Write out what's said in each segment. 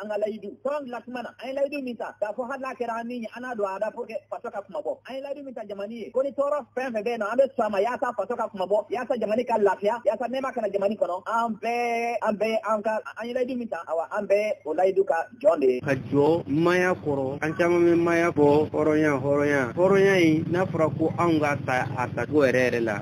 an ka layidu fɔlɔ dilan tuma na an ye layidu min ta k'a fɔ hali n'a kɛra an ni ye an n'a don a da pour que faso ka kunmabɔ an ye layidu min ta jamani ye ko ni tɔɔrɔ fɛn fɛn bɛ yen nɔ an bɛ sɔn a ma yaasa faso ka kunmabɔ yaasa jamani ka lafiya yaasa nɛɛma ka na jamani kɔnɔ an bɛɛ an bɛɛ an ka an ye layidu min ta awa an bɛ o layidu kan jɔn de ye ka jɔ maaya kɔrɔ an caman bɛ maaya kɔ hɔrɔnya hɔrɔnya hɔrɔnya in n'a fɔra ko anw k'a ta a tacogo yɛrɛ yɛrɛ la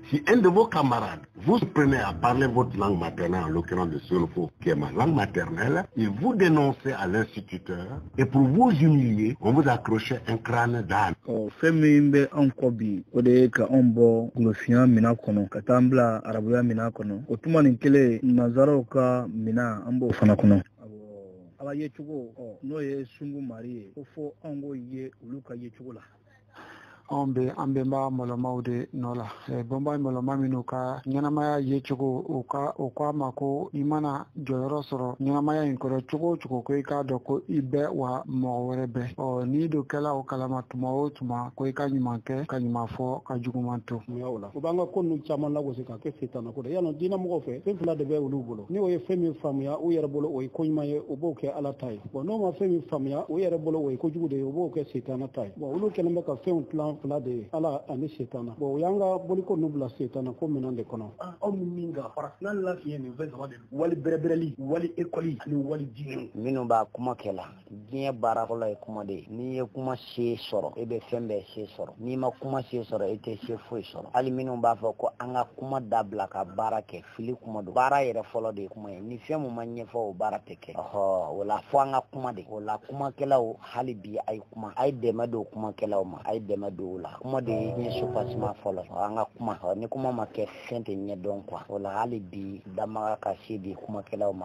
Si un de vos camarades, vous prenait à parler votre langue maternelle, en l'occurrence le sénoufo, qui est ma langue maternelle, il vous dénonçait à l'instituteur, et pour vous humilier, on vous accroche un crâne d'âne. Oh, fɛn min bɛ anw kɔ bi o de ye ka anw bɔ golofinya mina kɔnɔ ka taa an bila arabuya mina kɔnɔ o tuma nin kelen nanzaraw ka mina an b'o fana kɔnɔ ala yecogo n'o ye sungu mari ye ko fɔ anw k'o ye olu ka yecogo la anw bɛ an bɛnba mɔlɔmaw de nɔ la bɛnba mɔlɔma minnu ka ɲɛnamaya yecogo u ka u k'an ma ko i mana jɔyɔrɔ sɔrɔ ɲɛnamaya in kɔnɔ cogo o cogo ko i k'a dɔn ko i bɛ yen wa mɔgɔ wɛrɛ bɛ yen ɔ n'i dun kɛla o kalama tuma o tuma ko i ka ɲuman kɛ ka ɲuman fɔ ka juguman to o la u b'an ka ko ninnu caman lagosi k'a kɛ setana ko dɛ yannɔ diinɛmɔgɔw fɛ fɛn fila de bɛ olu bolo ni o ye fɛn min faamuya u yɛrɛ bolo o ye koɲuman ye u b'o kɛ ala ta ye bɔn n'o ma fɛn min faamuya o yɛrɛ bolo o ye kojugu de ye o b'o kɛ setana ta ye bɔn olu kɛlen bɛ ka fɛnw tilan fila de ye ala ani setana bɔn o y'an ka boliko nu bila setana ko minɛn de kɔnɔ ah, aw ni min ka farafinna lafiɲɛ nin fɛn saba de don wali bɛrɛbɛrɛli wali ekɔli ani wali diinɛ minnu b'a kuma kɛ la diɲɛ baara fɔlɔ ye kuma de ye n'i ye kuma se sɔrɔ e bɛ fɛn bɛɛ se sɔrɔ n'i ma kuma se sɔrɔ e tɛ se foyi sɔrɔ hali minnu b'a fɔ ko an ka kuma dabila ka baara kɛ fili kuma don baara yɛrɛ fɔlɔ de ye kuma ye ni fɛn min ma ɲɛfɔ o baara tɛ kɛ ɔhɔ o la fɔ an ka kuma de o la kumakɛlaw hali bi a ye kuma a ye dɛmɛ don kumakɛlaw ma a ye dɛmɛ don o la kuma de ye soubassement fɔlɔ an ka kuma ni kuma ma kɛ fɛn tɛ ɲɛdɔn quoi o la hali bi danbaga ka se di kumakɛlaw ma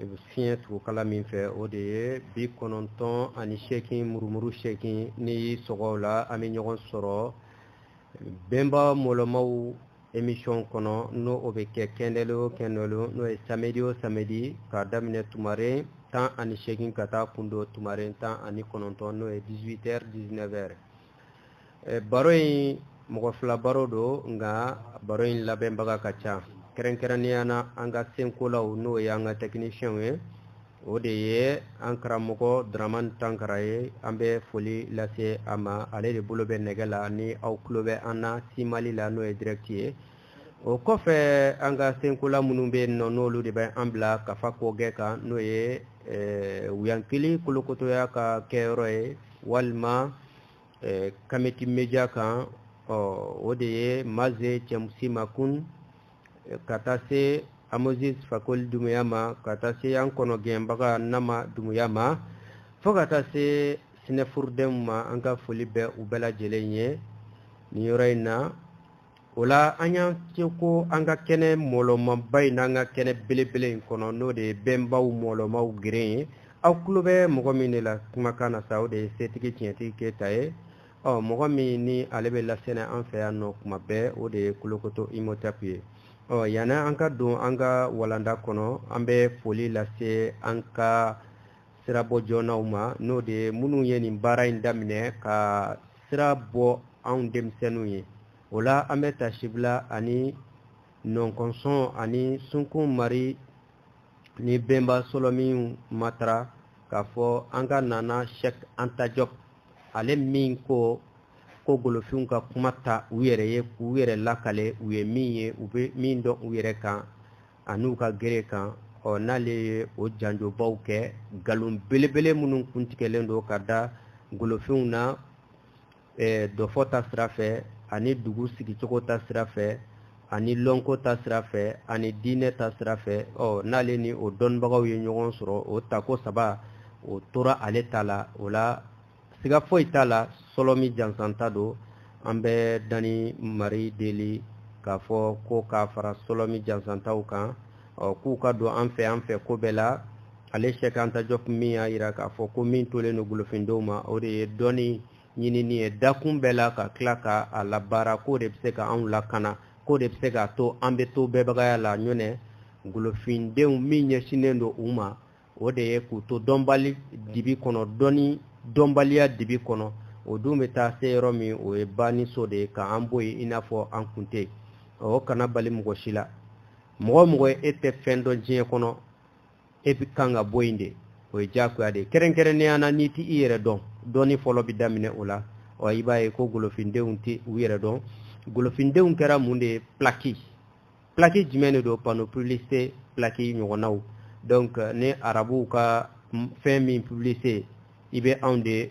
e bɛ fiɲɛ turukala min fɛ o de ye bi kɔnɔntɔn ani seegin murumuru seegin n'i y'i sɔgɔ o la an bɛ ɲɔgɔn sɔrɔ bɛnba mɔlɔmaw emission kɔnɔ n'o o bɛ kɛ kɛndɛlon o kɛndɛlon n'o ye samedi o samedi k'a daminɛ tumaren tan ani seegin ka taa kundon tumaren tan ani kɔnɔntɔn n'o ye 18 heures 19 heures eh, baro in mɔgɔ fila baro don nka baro in labɛnbaga ka ca kɛrɛnkɛrɛnnenya na an ka senkolaw n'o ye an ka tɛkinisiyɛnw ye o de ye an karamɔgɔ dramani tankara ye an bɛ foli lase a ma ale de bolo bɛ nɛgɛ la ni aw tulo bɛ an na simali la n'o ye dirɛkiti ye o kɔfɛ an ka senkola minnu bɛ yen nɔ n'olu de bɛ an bila kafa kɔgɛ kan n'o ye eh, wuyankili kolokotoya ka kɛyɔrɔ ye walima eh, kameti media kan ɔ o de ye maze cɛmusi makun eh, ka taa se amosis fakoli dumuya ma ka taa se an kɔnɔgɛnbaga nama dumuya ma fo ka taa se sinɛfurudenw ma an ka foli bɛ u bɛɛ lajɛlen ye nin yɔrɔ in na o la an y'an se ko an ka kɛnɛ mɔlɔmaba in n'an ka kɛnɛ belebele in kɔnɔ n'o de ye bɛnbaw mɔlɔmaw geren ye aw tulo bɛ mɔgɔ min de la kumakan na sa o de ye setigi tiɲɛtigi keyita ye ɔ mɔgɔ min ni ale bɛ lasɛnɛ an fɛ yan nɔ kuma bɛɛ o de ye kolokoto imotɛpu ye ɔ yanni an ka don an ka walanda kɔnɔ an bɛ foli lase an ka sirabɔ jɔnnaw ma n'o de ye minnu ye nin baara in daminɛ ka sira bɔ anw denmisɛnninw ye o la an bɛ taasibila ani nɔnkɔnsɔn ani sunkun mari ni bɛnba sɔlɔmin matara k'a fɔ an ka ŋana sɛk anta jɔp ale min ko ko golofinw ka kuma ta u yɛrɛ ye k'u yɛrɛ lakale u ye min ye u bɛ min dɔn u yɛrɛ kan ani u ka gere kan ɔ n'ale ye o janjobaw kɛ nkalon belebele minnu kuntigɛlen don ka da golofinw na eh, dɔfɔ ta sira fɛ ani dugu sigicogo ta sira fɛ ani lɔnko ta sira fɛ ani diinɛ ta sira fɛ ɔ n'ale ni o dɔnnibagaw ye ɲɔgɔn sɔrɔ o tako saba o tora ale ta la o la siga foyi t'a la sɔlɔmin jansanta don an bɛ danni mari deli k'a fɔ ko k'a fara sɔlɔmin jansantaw kan ɔ k'u ka don an fɛ an fɛ ko bɛɛ la ale sɛk anta jɔp min y'a yira k'a fɔ ko min tolen don golofindenw ma o de ye dɔnni ɲinini ye dakun bɛɛ la ka tila ka a labaara k'o de bɛ se ka anw lakana k'o de bɛ se k'a to an bɛ to bɛɛbagaya la n'o tɛ golofindenw min ɲɛsinnen don u ma o de ye k'u to dɔnbali dibi kɔnɔ dɔnni dɔnbaliya dibi kɔnɔ o dun bɛ taa se yɔrɔ min o ye banniso de ye k'an bɔ yen i n'a fɔ an kun tɛ yen o kana bali mɔgɔ si la mɔgɔ o mɔgɔ e tɛ fɛn dɔn diɲɛ kɔnɔ e ka kan ka bɔ yen de o ye diyagoya de ye kɛrɛnkɛrɛnnenya na n'i tɛ i yɛrɛ dɔn dɔnni fɔlɔ bɛ daminɛ o la ɔ i b'a ye ko golofindenw tɛ u yɛrɛ dɔn golofindenw kɛra mun de ye pilaki plaki jumɛn de don panneau publicité plaki ɲɔgɔnnaw donc euh, ni arabuw ka fɛn min publicité i bɛ anw de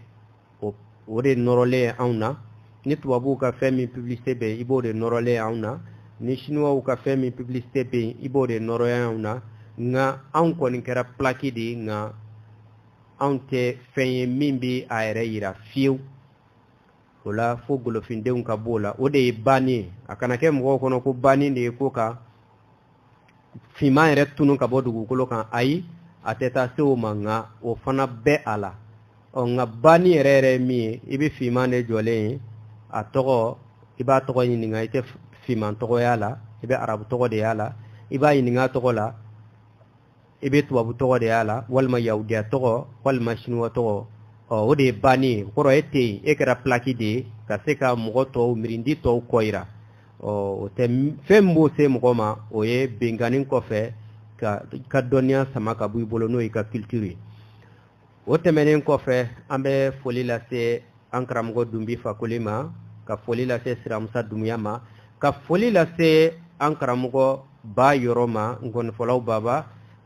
o de nɔrɔlen ye anw na ni tubabuw ka fɛn min publicité bɛ yen i b'o de nɔrɔlen ye anw na ni siniwaw ka fɛn min publicité bɛ yen i b'o de nɔrɔlen ye anw na nka anw kɔni kɛra plaki de ye nka anw tɛ fɛn ye min bɛ a yɛrɛ yira fiyewu o la fo golofindenw ka b'o la o de ye banni ye a kana kɛ mɔgɔw kɔnɔ ko banni de ye ko ka finman yɛrɛ tunu ka bɔ dugukolo kan ayi a tɛ taa se o ma nka o fana bɛ a la ɔ nka banni yɛrɛ yɛrɛ ye min ye i bɛ finman de jɔlen ye a tɔgɔ i b'a tɔgɔ ɲininka i tɛ finman tɔgɔ y'a la i bɛ arabu tɔgɔ de y'a la i b'a ɲininka a tɔgɔ la i bɛ tubabu tɔgɔ de y'a la walima yahudiya tɔgɔ walima sinuwa tɔgɔ ɔ o de ye banni ye kɔrɔ e tɛ yen e kɛra pilaki de ye ka se ka mɔgɔ tɔw mirindi tɔw kɔ jira ɔ o tɛ fɛn min b'o se mɔgɔ ma o ye binkanni kɔfɛ k'a ka dɔnniya sama ka bɔ i bolo n'o y'i ka culture ye o tɛmɛnen kɔfɛ an bɛ foli lase an karamɔgɔ dunbi fakoli ma ka foli lase siramusa dumuya ma ka foli lase an karamɔgɔ ba yɔrɔ ma nkɔnifɔlaw baba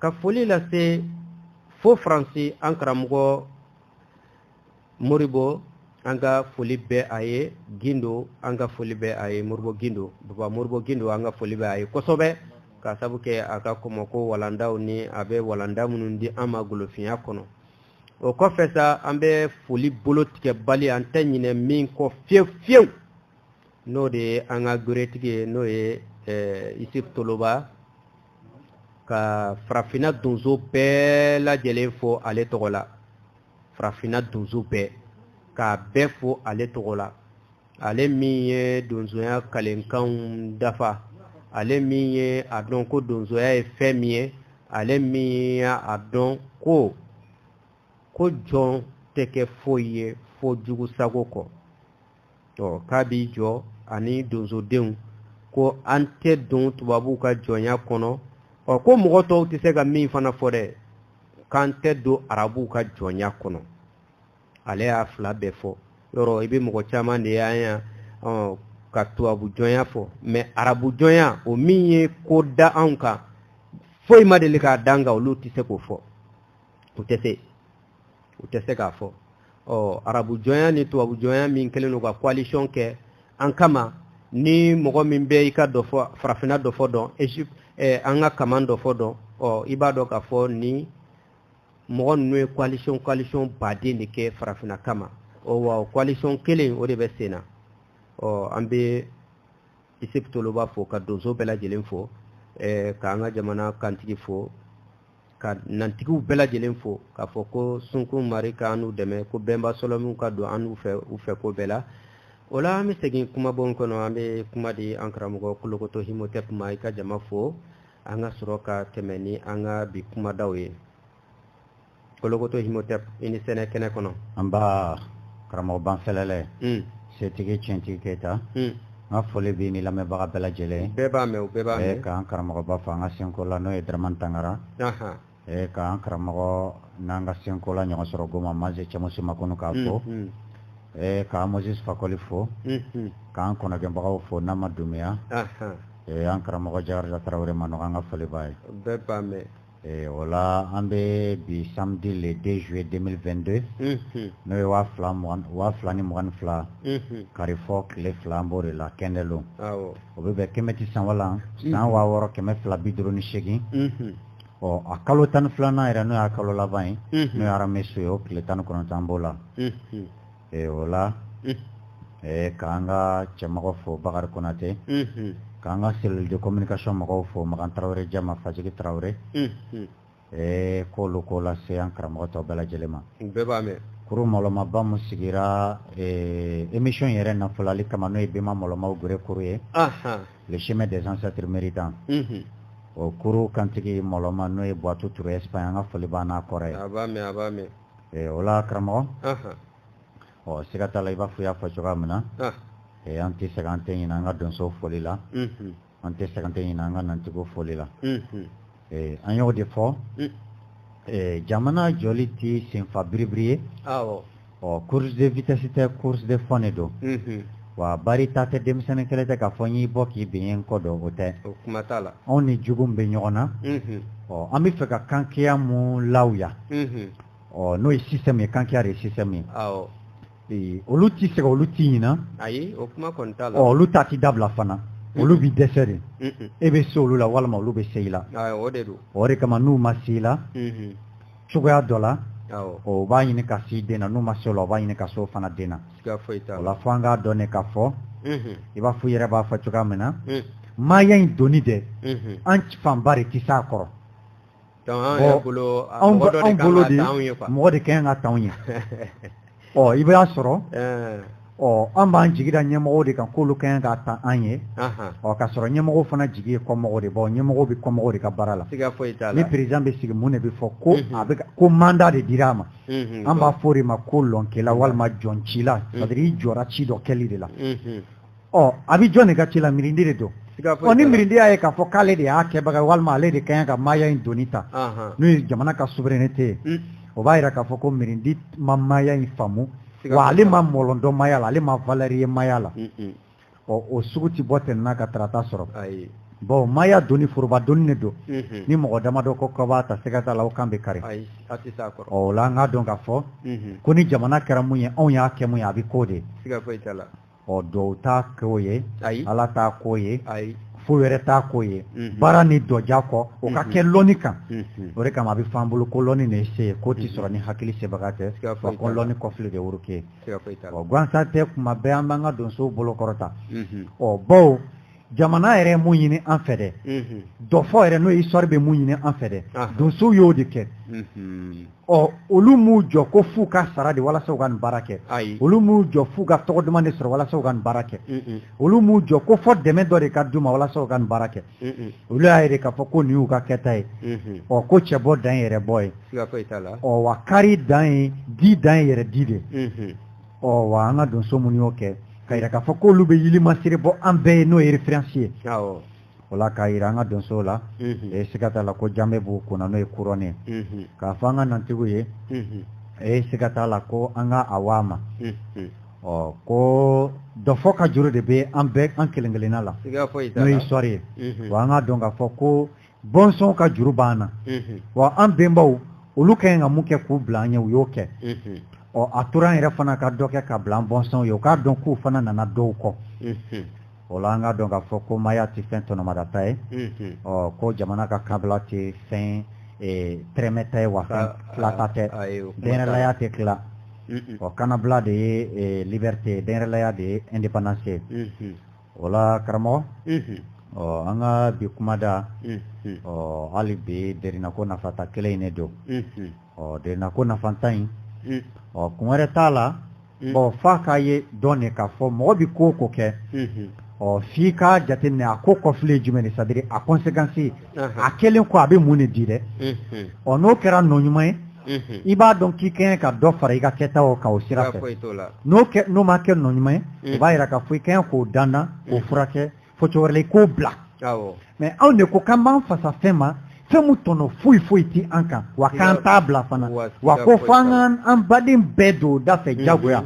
ka foli lase fo faransi an karamɔgɔ moribo an ka foli bɛ a ye gindo an ka foli bɛ a ye moribo gindo baba moribo gindo an ka foli bɛ a ye kosɛbɛ ka sabu kɛ a ka kɔmɔko walandaw ni a bɛ walanda minnu di an ma golofinya kɔnɔ o kɔfɛ sa an bɛ foli bolo tigɛbali an tɛ ɲinɛ min kɔ fiyewu fiyewu n'o de ye an ka goretigi ye n'o ye eh, isif toloba ka farafinna donso bɛɛ lajɛlen fo ale tɔgɔ la farafinna donso bɛɛ k'a bɛɛ fo ale tɔgɔ la ale min ye donsoya kalikanw dafa ale min ye a dɔn ko donsoya ye fɛn min ye ale min ye a dɔn ko ko jɔn tɛ kɛ foyi ye fo jugu sago kɔ ɔ k'a b'i jɔ ani donsodenw ko an tɛ don tubabuw ka jɔnya kɔnɔ ɔ ko mɔgɔ tɔw tɛ se ka min fana fɔ dɛ k'an tɛ don arabuw ka jɔnya kɔnɔ ale y'a fila bɛɛ fɔ yɔrɔ i bɛ mɔgɔ caman de ye yan ɔ ka tubabu jɔnya fɔ mais arabu jɔnya o min ye ko da anw kan foyi ma deli k'a d'an kan olu tɛ se k'o fɔ u tɛ se u tɛ se k'a fɔ ɔ arabu jɔnya ni tubabu jɔnya min kɛlen don ka coalition kɛ an kama ni mɔgɔ min bɛ i ka dɔfɔ farafinna dɔfɔ dɔn egypte eh, an ka kaman dɔfɔ dɔn ɔ i b'a dɔn k'a fɔ nin mɔgɔ ninnu ye coalition coalition baden de kɛ farafinna kama ɔ wa coalition kelen o de bɛ sen na ɔ an bɛ isif toloba fo ka donso bɛɛ lajɛlen fo eh, ka an ka jamana kantigi fo ka nantigiw bɛɛ lajɛlen fo k'a fɔ ko sunkun mari ka an n'u dɛmɛ ko bɛnba sɔlɔmiw ka don an n'u fɛ ko bɛɛ la o la an bɛ segin kumabon kɔnɔ an bɛ kuma di an karamɔgɔ kolokoto himotep ma i ka jama fo an ka sɔrɔ ka tɛmɛ ni an ka bi kumadaw ye kolokoto himotep i ni sɛnɛ kɛnɛ kɔnɔ an b'a karamɔgɔ banfɛlɛlɛ hmm. setigi tiɲɛtigi keyita hmm. an ka foli b'i ni lamɛnbaga bɛɛ lajɛlen bɛɛ b'a mɛn o bɛɛ b'a mɛn eh, k'an karamɔgɔba fo an ka senko la n'o ye daraman tangara eh, k'an karamɔgɔ n'an ka senko la ɲɔgɔn sɔrɔ goma manse cɛmuso makɔnɔ k'a hmm, fo eh, k'an moses fakɔli fo k'an kɔnɔgɛnbagaw fo n'an ma dumiya an karamɔgɔ jakarija tarawele ma nɔgɔ an ka foli b'a ye bɛɛ b'a mɛn Ee o la an bɛ bi samedi le 2 juillet 2022. Unhun! N'o ye waa fila ni mugan ni fila. Unhun! Karifɔ tile fila an b'o de la Kɛndɛlon. Awɔ! O bɛ bɛn Kɛmɛti sanwalan. Unhun! San waa wɔɔrɔ kɛmɛ fila bi duuru ni seegin. Unhun! Ɔ a kalo tan ni filanan yɛrɛ n'o y'a kalo laban ye. Unhun! N'o ye Aramesu ye o tile tan ni kɔnɔntɔn an b'o la. Unhun! ee o la k'an ka cɛmɔgɔ fo bakari konatɛ k'an ka cellule de communication mɔgɔw fo makan tarawele jama fajigi tarawele ɛɛ k'olu ko lase an karamɔgɔ tɔ bɛɛ lajɛlen ma bɛɛ b'a mɛn kuru malɔmaba min sigira émission yɛrɛ nafolali kama n'o ye bɛnma malɔma gɛrɛ kuru ye le chemin des ancêtres miiri dan o kuru kantigi malɔma n'o ye buwatu ture Espagne an ka foli b'an kɔrɔ ye ee o la karamɔgɔ Anhan. ɔ siga t'a la i b'a fɔ i y'a fɔ cogoya min na Ah. ee an tɛ sɛgɛn an tɛ ɲinɛ an ka donso foli la Mhm. an tɛ sɛgɛn an tɛ ɲinɛ an ka nantigiw foli la Mhm. ee an y'o de fɔ Mm. ee jamana jɔli tɛ senfa biribiri ye Awɔ. ɔ course de vitesse tɛ course de fond de don Mhm. wa bari ta tɛ denmisɛnnin kɛlɛ tɛ k'a fɔ n y'i bɔ k'i bin kɔ dɔn o tɛ anw ni jugu bɛ ɲɔgɔn na ɔ an bɛ fɛ ka kankeya min lawa yan ɔ n'o ye système ye kankeya de ye système ye ee olu tɛ sɛgɛn olu tɛ ɲina ayi o kuma kɔni t'a la ɔ olu ta tɛ dabila fana olu bɛ dɛsɛ de e bɛ se olu la walima olu bɛ se i la o de don o de kama n'u ma se i la cogoya dɔ la o b'a ɲini ka s'i den na n'u ma se o la o b'a ɲini ka s'o fana den na o la fo an k'a dɔn ne k'a fɔ mhm. i b'a fɔ i yɛrɛ b'a fɔ cogoya min na mhm. maaya in doni dɛ mhm. an fanba de tɛ s'a kɔrɔ anw bolo de mɔgɔ de ka kan k'a t'anw ye ɔ i b'a sɔrɔ ɔ an b'an jigi da ɲɛmɔgɔ de kan k'olu ka kan k'a ta an ye ɔ ka sɔrɔ ɲɛmɔgɔ fana jigi ye kɔmɔgɔ de bɔ ɲɛmɔgɔ bɛ kɔmɔgɔ de ka baara la ni président bɛ sigi mun de bɛ fɔ ko a bɛ ko manda de dira a ma an b'a f'o de ma ko lɔkela walima jɔcila i jɔra ci dɔ kɛli de la ɔ a bɛ jɔn de ka ci la mirindi de don ɔ ni mirindi y'a ye k'a fɔ k'ale de y'a kɛbaga walima ale de ka ɲi ka maaya in doni ta n'o ye jamana ka souveraineté ye mm. o b'a jira k'a fɔ ko mirindi ma maaya in faamu wa ale ma mɔlɔn dɔn maaya la ale ma valeur ye maaya la mm, mm. ɔ o sugu tɛ bɔ tɛnɛn na ka tarata sɔrɔ bon maaya doni foroba doni ne don mhm. ni mɔgɔ damadɔ ko k'u b'a ta siga t'a la o kan bɛ kari o la an k'a dɔn k'a fɔ mhm. ko ni jamana kɛra mun ye anw y'a kɛ mun ye a bɛ k'o de ɔ dɔw t'a k'o ye ayi ala t'a k'o ye ayi fɛn wɛrɛ t'a k'o ye mhm. baara ni dɔja kɔ o ka mhm. kɛ lɔni kan mhm. o de kama a bɛ f'an bolo ko lɔni de ye se ye k'o tɛ sɔrɔ ni hakili sebaga tɛ wa ko lɔni kɔfile de woro ke ɔ gansan tɛ kuma bɛɛ an b'an ka donsow bolo kɔrɔta ɔ bawo jamana yɛrɛ mun ɲini an fɛ dɛ dɔfɔ yɛrɛ n'o histoire bɛ mun ɲini an fɛ dɛ donsow y'o de kɛ ɔ olu m'u jɔ ko f'u ka sara de walasa u ka nin baara kɛ olu m'u jɔ f'u ka tɔgɔ duman de sɔrɔ walasa u ka nin baara kɛ olu m'u jɔ ko fo dɛmɛ dɔ de ka d'u ma walasa u ka nin baara kɛ olu y'a ye de k'a fɔ ko nin y'u ka kɛta ye ɔ ko cɛ bɔ dan ye yɛrɛ bɔ ye ɔ wa kari dan ye di dan ye yɛrɛ di de ɔ wa an ka donso minnu y'o kɛ k'a yira k'a fɔ k'olu bɛ yilimasiri bɔ an bɛɛ ye n'o ye référence ye o la k'a yira an ka donsow la ee siga t'a la ko janbe b'u kun na n'o ye couronne ye k'a fɔ an ka nantigiw ye ee siga t'a la ko an ka a waa ma ɔ ko dɔfɔ ka juru de bɛ an bɛɛ an kelen kelenna la n'o ye histoire ye wa an k'a dɔn k'a fɔ ko bɔnsɔn ka juru b'an na wa an bɛnbaw olu ka ɲi ka mun kɛ k'u bila an ye u y'o kɛ ɔ a tora an yɛrɛ fana ka dɔ kɛ k'a bila an bɔnsɔnw ye u k'a dɔn k'u fana nana dɔw kɔ o la an k'a dɔn k'a fɔ ko maaya tɛ fɛn tɔnɔmadata ye ɔ ko jamana ka kanabila tɛ fɛn tɛrɛmɛta ye wa fɛn tilata tɛ denyɛrɛlaya tɛ tila ɔ kanabila de ye liberté denyɛrɛlaya de ye indépendance ye o la karamɔgɔ ɔ an ka bi kumada ɔ hali bi derinako nafantan kelen in ne don ɔ derinako nafantan in ɔ kun wɛrɛ t'a la ɔ f'an k'a ye dɔrɔn de k'a fɔ mɔgɔ bɛ ko o ko kɛ ɔ f'i k'a jateminɛ a ko kɔfile jumɛn ça veut dire a conséquence a kɛlen kɔ a bɛ mun de di dɛ ɔ n'o kɛra nɔ ɲuman ye i b'a dɔn k'i ka ɲi ka dɔ fara i ka kɛta o kan o sira fɛ n'o ma kɛ nɔ ɲuman ye o b'a jira k'a fɔ i ka ɲi k'o dandan k'o furakɛ fo cogo wɛrɛ la i k'o bila mɛ anw de ko k'an b'an fasa fɛn ma fɛn min tɔnɔ foyi foyi tɛ an kan wa k'an t'a bila fana wa ko fo an k'an an baden bɛɛ don o da fɛ jagoya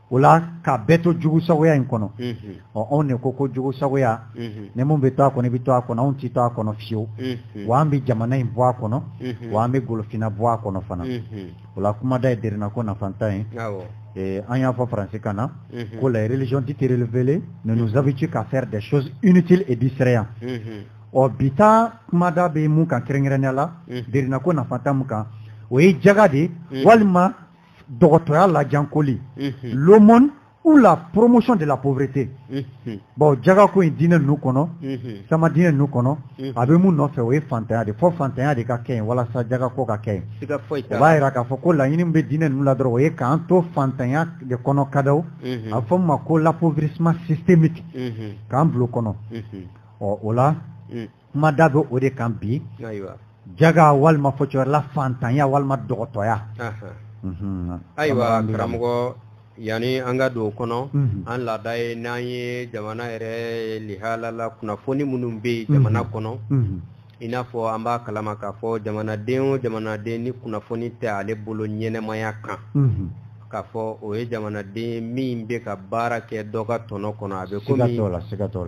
o la ka bɛɛ to jugusagoya in kɔnɔ ɔ anw de ko ko jugusagoya ni minnu bɛ to a kɔnɔ i bɛ to a kɔnɔ anw tɛ to a kɔnɔ fiyewu wa an bɛ jamana in bɔ a kɔnɔ wa an bɛ golofinna bɔ a kɔnɔ fana o la kumada ye derinna ko nafantan ye eh, an y'a fɔ faransi kan na ko la religion dit révélée ne nous habitue qu'à faire des choses inutiles et distrayant ɔ bi ta kumada bɛ mun kan kɛrɛnkɛrɛnnenya la derinna ko nafantan mun kan o ye jaga de ye walima dɔgɔtɔya lajankoli l'aumône ou la promotion de la pauvreté bon jaga ko in diinɛ ninnu kɔnɔ sama diinɛ ninnu kɔnɔ a bɛ mun nɔfɛ o ye fantanya de fo fantanya de ka kɛ yen walasa jaga ko ka kɛ yen o b'a jira k'a fɔ ko laɲini min bɛ diinɛ ninnu la dɔrɔn o ye k'an to fantanya de kɔnɔ kadaw a bɛ fɔ min ma ko l'appauvrissement systémique k'an bulon kɔnɔ ɔ o la kumada bɛ o de kan bi jaga walima fɔcogo la fantanya walima dɔgɔtɔya mhm. ayiwa karamɔgɔ yanni an ka don o kɔnɔ mhm. an laada ye n'an ye jamana yɛrɛ lihala la kunnafoni minnu bɛ yen jamana mhm. kɔnɔ i n'a fɔ an b'a kalama k'a fɔ jamanaden o jamanaden ni kunnafoni tɛ ale bolo ɲɛnamaya kan k'a fɔ o ye jamanaden ye min bɛ ka baara kɛ dɔ ka tɔnɔ kɔnɔ a bɛ komi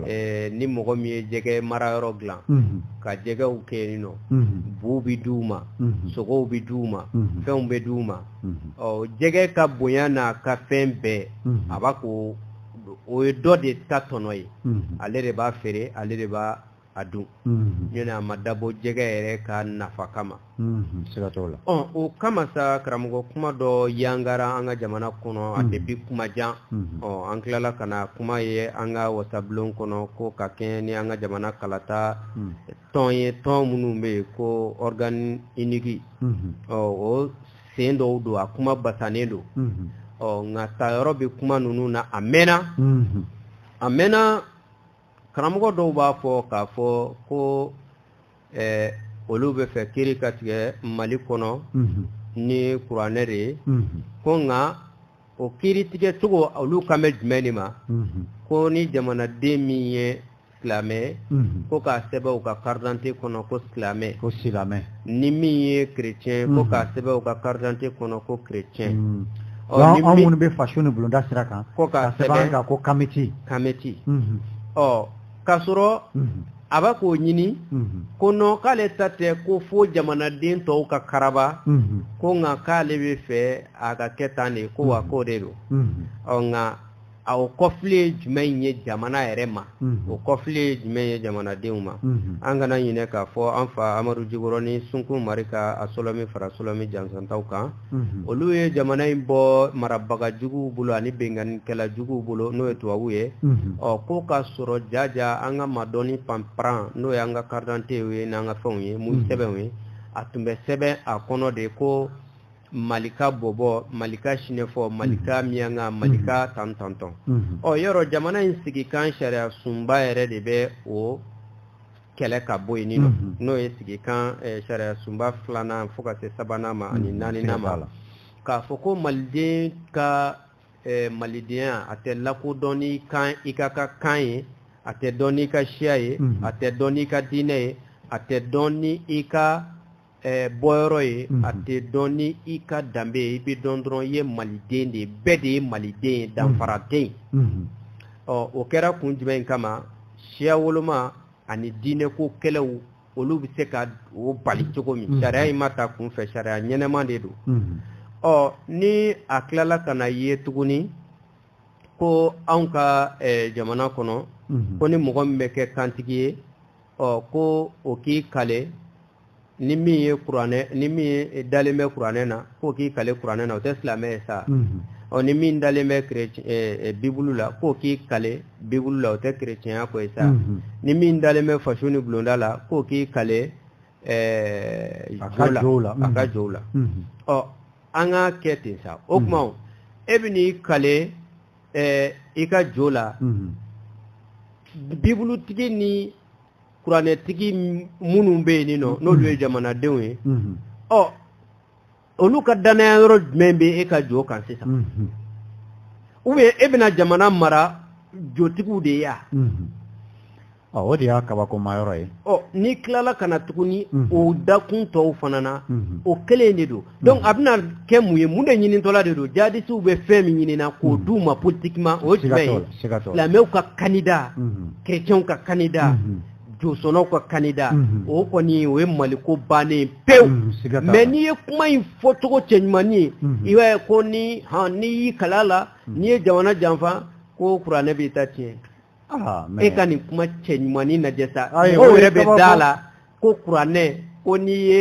eh, ni mɔgɔ min ye jɛgɛ marayɔrɔ dilan mhm. ka jɛgɛw kɛ yen ɲɔ mhm. buw bɛ di u ma mhm. sogow bɛ di u ma fɛnw bɛ di u ma ɔ jɛgɛ ka bonya n'a ka fɛn bɛɛ a b'a ko o ye dɔ de ta tɔnɔ ye ale de b'a feere ale de b'a a dun ɲɔni a ma dabɔ jɛgɛ yɛrɛ ka nafa kama siga t'o la o kama sa karamɔgɔ kuma dɔ yangara an ka jamana kɔnɔ a tɛ bi kuma jan ɔ an tilala ka na a kuma ye an ka wasabulon kɔnɔ ko ka kɛɲɛ ni an ka jamana kalata tɔn ye tɔn minnu bɛ yen ko organe unique ɔ o sen dɔw don a kuma basanen don ɔ nka tayɔrɔ bɛ kuma ninnu na a mɛnna a mɛnna karamɔgɔ dɔw b'a fɔ k'a fɔ ko eh, olu b'a fɛ kiri ka tigɛ mali kɔnɔ mhm. ni kuranɛ de ye mhm. ko nka o kiri tigɛ cogo olu kan bɛ jumɛn de ma mhm. ko ni jamanaden min ye silamɛ ko k'a sɛbɛn o ka karidante kɔnɔ ko silamɛ ko silamɛ ni min ye chrétien ko k'a sɛbɛn o ka karidante kɔnɔ ko chrétien ɔ anw minnu bɛ faso ni bulonda sira kan ko k'a sɛbɛn kan ko kamiti kamiti ɔ k'a sɔrɔ a bɛ k'o ɲini ko nɔ k'ale ta tɛ ko fo jamanaden tɔw ka karaba ko nka k'ale b'a fɛ a ka kɛ tan de ko wa k'o de don ɔ nka a o kɔfili ye jumɛn in ye jamana yɛrɛ ma o kɔfili ye jumɛn ye jamanadenw ma an kana ɲinɛ k'a fɔ an fa amadu jikɔrɔni sunkun mari ka a sɔlɔmin fara sɔlɔmin jansantaw kan olu ye jamana in bɔ marabagajuguw bolo ani binkannikɛla juguw bolo n'o ye tubabu ye ɔ ko ka sɔrɔ jaja an ka madɔni panparan n'o ye an ka karidante ye n'an ka fɛnw ye mun sɛbɛnw ye a tun bɛ sɛbɛn a kɔnɔ de ko malika bɔbɔ malika sinɛfɔ malika miyanka malika tan tan tan o yɔrɔ jamana in sigikan sariya sunba yɛrɛ de bɛ o kɛlɛ ka bɔ yen nɔ n'o ye sigikan sariya sunba filanan fo ka se sabanan ma ani naaninan ma la k'a fɔ ko maliden ka malidenya a tɛ lakodɔn n'i ka kan ye a tɛ dɔn n'i ka siya ye a tɛ dɔn n'i ka diinɛ ye a tɛ dɔn ni i ka bɔyɔrɔ ye a tɛ dɔn ni i ka danbe ye i bɛ dɔn dɔrɔn i ye maliden de ye bɛɛ de ye maliden ye danfara tɛ yen ɔ o kɛra kun jumɛn in kama siya woloma ani diinɛko kɛlɛw olu bɛ se ka o bali cogo min mm-hmm. sariya in ma ta kunfɛ sariya ɲɛnama de don mm-hmm. ɔ ni a tilala ka na ye tuguni ko anw ka eh, jamana kɔnɔ mm-hmm. ko ni mɔgɔ min bɛ kɛ kantigi ye ɔ ko o k'i kale ni min ye kuranɛ ni min ye dalen bɛ kuranɛ na k'o k'i kale kuranɛ na o tɛ silamɛ ye sa ɔ ni min dalen bɛ bibulu la k'o k'i kale bibulu la o tɛ kerecɛnya ko ye sa ni min dalen bɛ faso ni bulonda la k'o k'i kale a ka jo la a ka jo la ɔ an ka kɛ ten sa o tuma e bɛn'i kale i ka jo la bibulutigi ni kuranɛtigi minnu bɛ yen nin nɔ mm-hmm. n'olu ye jamanadenw ye mm-hmm. ɔ olu ka dannaya yɔrɔ jumɛn bɛ e ka jo kan sisan mm-hmm. ou bien e bɛna jamana mara jotigiw de ye ya ɔ o de y'a kabakoma yɔrɔ ye ɔ n'i tilala ka na tuguni o dakun tɔw fana na o kelen de don donc a bɛna kɛ mun ye mun de ɲinitɔla de don jadisiw bɛ fɛn min ɲinina k'o d'u ma politiquement o ye jumɛn ye silamɛw ka candidat chrétienw ka candidat josɔnnaw ka candidat o kɔni o ye maliko bannen pewu mais n'i ye kuma in fɔcogo cɛɲumannin ye i b'a ye ko ni n'i y'i kal'a la n'i ye jamana janfa ko kuranɛ b'i ta tiɲɛ ah, e ka nin kuma cɛɲumannin lajɛ sa mɔgɔw yɛrɛ bɛ da la ko kuranɛ ko n'i ye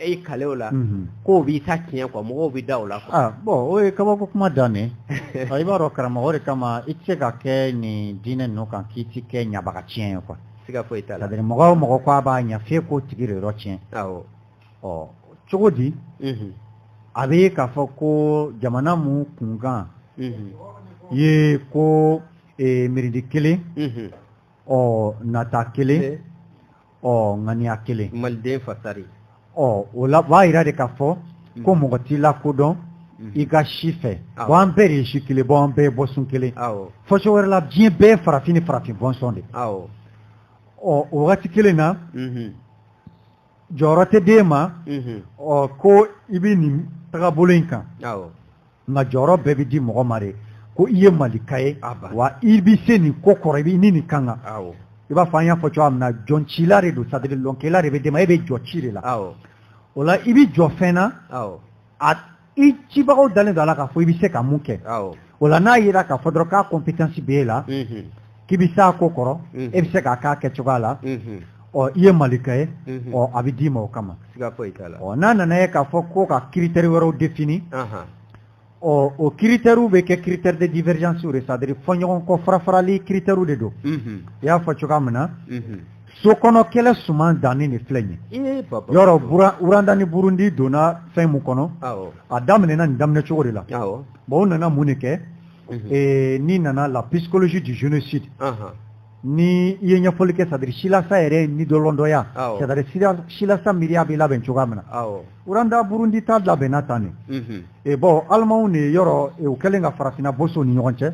i kale o la mhm. k'o b'i ta tiɲɛ quoi mɔgɔw bɛ da o la ah, bon o ye kabako kuma dan ye ah, i b'a dɔn karamɔgɔ de kama i tɛ se ka kɛ nin diinɛ ninnu kan k'i tɛ kɛ ɲabaga tiɲɛ ye quoi siga foyi t'a la mɔgɔ o mɔgɔ ko a b'a ɲɛ fɛ k'o tigi de yɔrɔ tiɲɛ ɔ cogo di a bɛ k'a fɔ ko jamana min kunkan ye ko e, miiridi kelen ɔ nata kelen ɔ ŋaniya kelen maliden fasari ɔ o la b'a jira de k'a fɔ ko mɔgɔ t'i lakodɔn Mhm. i ka si fɛ bawo an bɛɛ de ye si kelen bawo an bɛɛ ye bɔsun kelen fɔcogo wɛrɛ la diɲɛ bɛɛ ye farafin ni farafin bɔnsɔn de ɔ o wagati kelen na mhm. jɔyɔrɔ tɛ d'e ma ɔ ko i bɛ nin tagabolo in kan nka jɔyɔrɔ bɛɛ bɛ di mɔgɔ ma de ko i ye malika ye wa i bɛ se nin ko kɔrɔ i ni nin ka kan i b'a fɔ an y'a fɔ cogoya min na jɔncila de don c'est-à-dire lɔnkɛla de bɛ d'e ma e bɛ jɔ ci de la o la i bɛ jɔ fɛn na a i cibagaw dalen don a la k'a fɔ i bɛ se ka mun kɛ o la n'a yera k'a fɔ dɔrɔn k'a compétence bɛ e la mhm. k'i bɛ s'a ko kɔrɔ mhm. e bɛ se k'a k'a kɛcogoya la mhm. ɔ i ye malika ye ɔ a bɛ d'i ma o kama ɔ n'a nana ye k'a fɔ ko ka critère wɛrɛw défini ɔ o critère bɛ kɛ critère de divergence de c'est-à-dire fɔɲɔgɔnkɔ farafarali critère de don i y'a fɔ cogoya min na so kɔnɔ kɛlɛ suman danni de filɛ nin ye yɔrɔ rwanda ni burundi donna fɛn min kɔnɔ a daminɛna nin daminɛ cogo de la bon o nana mun de kɛ mhm. n'i nana la psychologie du génocide ni i ye ɲɛfɔli kɛ c'est-à-dire silasa yɛrɛ nidɔlɔndɔya c'est-à-dire silasa miiriya bɛ labɛn cogoya min na rwanda burundi ta labɛnna tan de mhm. e bɔ alimanw de yɔrɔ e, u kɛlen ka farafinna boso ni ɲɔgɔn cɛ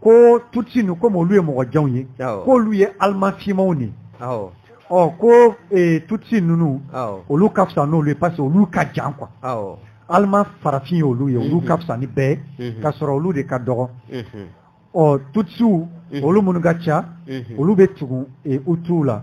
ko tutsi ninnu komi olu ye mɔgɔ janw ye k'olu ye aliman finmanw de ɔ ko e, tutsi ninnu olu ka fisa n'olu ye parce que olu ka jan quoi aliman farafin ye olu ye olu ka fisa ni bɛɛ ye ka sɔrɔ olu de ka dɔgɔ ɔ tutsiw olu minnu ka ca olu bɛ tugu e, hutuw la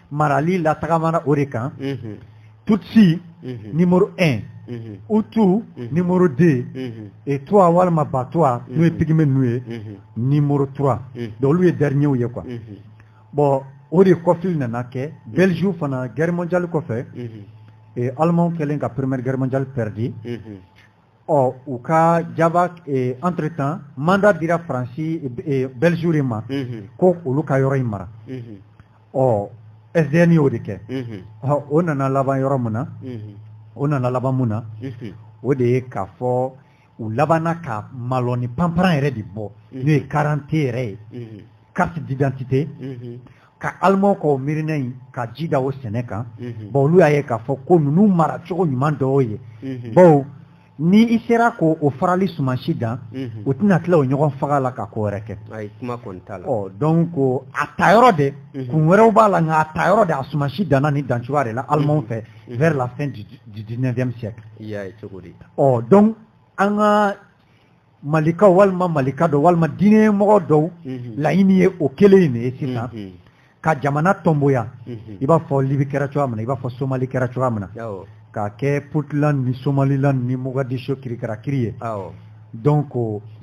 marali latagamana o de kan tutsi numéro 1 hutu numéro 2 et twa walima batwa n'o ye pygmée ninnu ye numéro 3 donc olu ye dernier ye quoi bon o de kɔfili nana kɛ belgique fana guerre mondiale kɔfɛ et allemand kɛlen ka première guerre mondiale perdu ɔ u ka jaba eh, entre temps mandat dira faransi eh, eh, belgiw de ma mhm. ko olu ka yɔrɔ in mara mhm. ɔ sdn y'o de kɛ mhm. ɔ o nana laban yɔrɔ min na o nana laban mun na o de ye k'a fɔ u labanna ka malɔni panparan yɛrɛ de bɔ n'o ye karante yɛrɛ ye carte d'identité ka aleman k'o miirina in ka ji da o sɛnɛ kan mhm. bawo olu y'a ye k'a fɔ ko ninnu mara cogo ɲuman dɔw ye mhm. bawo ni i sera k'o farali sumansi dan mhm. u tɛna tila o ɲɔgɔn faga la ka ko wɛrɛ kɛ ɔ donc a ta yɔrɔ de kun wɛrɛw b'a la nka a ta yɔrɔ de a sumansi danna nin dancogoya de la alemanw fɛ vers la fin du 19e siècle ɔ donc an ka malikaw walima malika dɔw walima diinɛ ɲɛmɔgɔ dɔw mhm. laɲini ye o kelen in de ye sisan mhm. ka jamana tɔnboya mhm. i b'a fɔ libi kɛra cogoya min na i b'a fɔ somali kɛra cogoya min na k'a kɛ puntland ni somaliland ni mogadisho kirikarakiri ye donc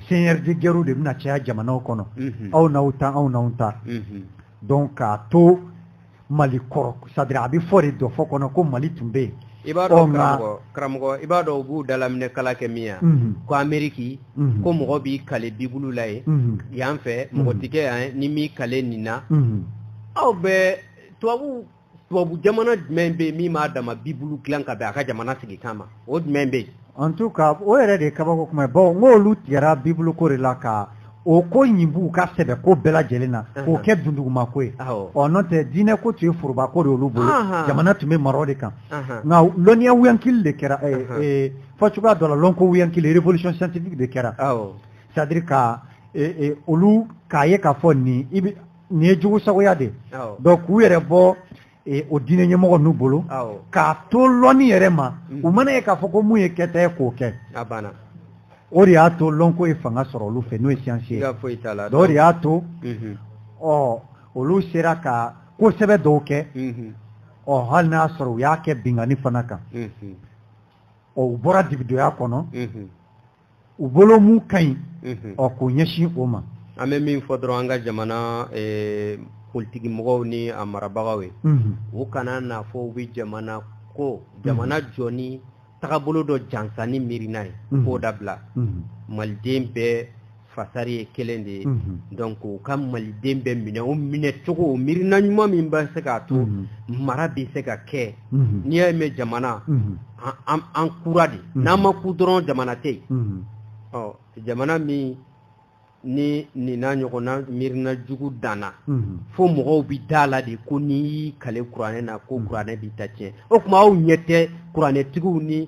seigneur de guerrew de bɛna caya jamanaw kɔnɔ aw n'aw ta anw n'anw ta donc k'a to mali kɔrɔ c'est à dire a bɛ fɔ de dɔfɔ kɔnɔ ko mali tun bɛ yen i b'a dɔn karamɔgɔ karamɔgɔ i b'a dɔn u b'u dalaminɛ kala kɛ min ya mhm. ko ameriki mhm. ko mɔgɔ b'i kale bibulu la yen mhm. yan fɛ mɔgɔ tɛ kɛ yan n'i m'i kale nin na aw bɛ tubabu tubabu jamana jumɛn bɛ yen min m'a dama bibulu dilan ka bɛn a ka jamana sigikan ma o jumɛn bɛ yen En tout cas o yɛrɛ de ye kabako kuma ye bawo n ko olu tigɛra Bible ko de la ka o ko ɲin b'u ka sɛbɛ ko bɛɛ lajɛlen na k'o kɛ dunduguma ko ye ɔ n'o tɛ diinɛ ko tun ye foroba ko de olu bolo jamana tun bɛ mara o de kan nka lɔnniya wuyankili de kɛra fɔ cogoya dɔ la lɔnko wuyankili révolution scientifique de kɛra c'est à dire ka olu k'a ye k'a fɔ nin i bɛ nin ye jugusagoya de ye donc k'u yɛrɛ bɔ e, o diinɛ ɲɛmɔgɔ ninnu bolo k'a to lɔnni yɛrɛ ma mm. u mana ye k'a fɔ ko mun ye kɛta ye k'o kɛ o de y'a to lɔnko ye fanga sɔrɔ olu fɛ n'o ye siyansi ye o de y'a to mm-hmm. ɔ olu sera ka ko sɛbɛ dɔw kɛ mm-hmm. ɔ hali n'a sɔrɔ u y'a kɛ binkanni fana kan mm-hmm. ɔ u bɔra dibidoya kɔnɔ u bolo mun ka ɲi mhm. ɔ k'o ɲɛsin o ma an bɛ min fɔ dɔrɔn an ka jamana eh, politiki mɔgɔw ni a marabagaw ye mhm. u kana n'a fɔ u bɛ jamana ko jamana mhm. jɔ ni tagabolo dɔ jansani miirina ye k'o dabila maliden bɛɛ fasari ye kelen de ye donc u ka maliden bɛɛ minɛ o minɛ cogo o miirina ɲuman min bɛ se k'a to mara bɛ se ka kɛ n'i y'a mɛn jamana an kura de n'an ma ku dɔrɔn jamana tɛ yen jamana min ni nin n'a ɲɔgɔnna miirina jugu danna fo mɔgɔw bɛ da la de ko n'i y'i kale kuranɛ na ko kuranɛ b'i ta tiɲɛ o tuma aw ɲɛ tɛ kuranɛtigiw ni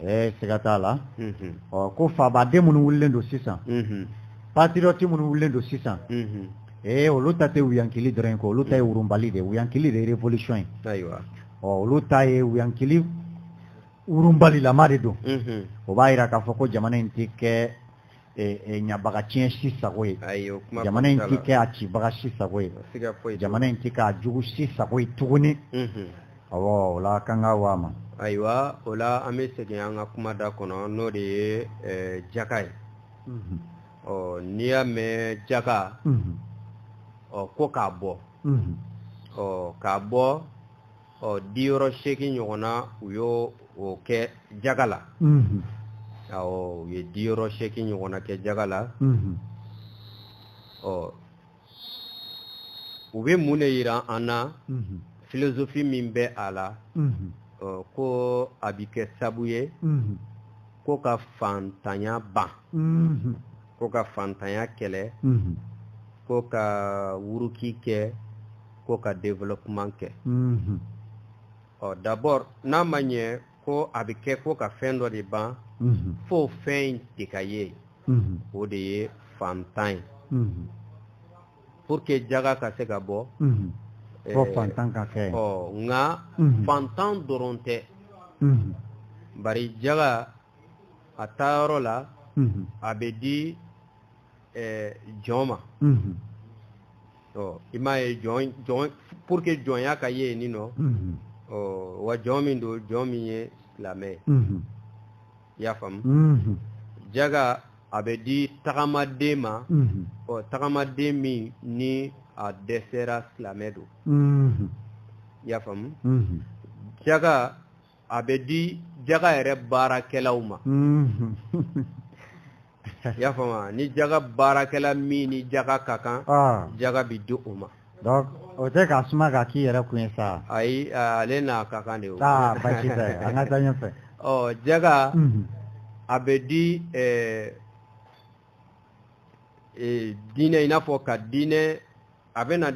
ɛɛ siga t'a la ɔ ko fabaden minnu wulilen don sisan patiriyɔti minnu wulilen don sisan ee olu ta tɛ wuyankili dɔrɔn ye ko olu ta ye wurunbali de ye wuyankili de ye revolution ye ayiwa ɔ olu ta ye wuyankili wurunbalilama de don o b'a jira k'a fɔ ko jamana in tɛ kɛ ɲabagaciyɛn si sago ye jamana in tɛ kɛ a cibaga si sago ye jamana in tɛ k'a jugu si sago ye tuguni awɔ o la k'an ka wa ma ayiwa o la an bɛ segin an ka kuma da kɔnɔ n'o de ye jaka ye ɔ n'i y'a mɛn jaka ɔ ko k'a bɔ ɔ k'a bɔ ɔ diyɔrɔ seegin ɲɔgɔn na u y'o kɛ jaga la awɔ u ye diyɔrɔ seegin ɲɔgɔn na kɛ jaga la ɔ u bɛ mun de yira an na filozofi min bɛ a la ko a bɛ kɛ sabu ye ko ka fantanya ban ko ka fantanya kɛlɛ mhm. ko ka wuruki kɛ ko ka développement kɛ mhm. ɔ d'abord n'a ma ɲɛ ko a bɛ kɛ ko ka fɛn dɔ de ban mhm. fo fɛn in de ka ye o de ye fantan ye pour que jaga ka se ka bɔ eh, fo fantan ka kɛ ɔ nka fantan dɔrɔn tɛ bari jaga a taayɔrɔ la a bɛ di jɔn ma i m'a ye pour que jɔnya ka ye nin nɔ wa jɔn min don jɔn min ye silamɛ ye i y'a faamu jaga a bɛ di tagamaden ma ɔ tagamaden min ni a dɛsɛra silamɛ don i y'a faamu jaga a bɛ di jaga yɛrɛ baarakɛlaw ma mm-hmm. i y'a faamuya ni jaga baarakɛla min ni jaga ka kan ah. jaga bɛ di o ma donc o tɛ k'a suma k'a k'i yɛrɛ kun ye sa ayi ale n'a ka kan de ye o aa ah, basi tɛ an ka taa ɲɛfɛ ɔ oh, jaga mm-hmm. a bɛ di ɛɛ eh, eh, diinɛ i n'a fɔ ka diinɛ a bɛna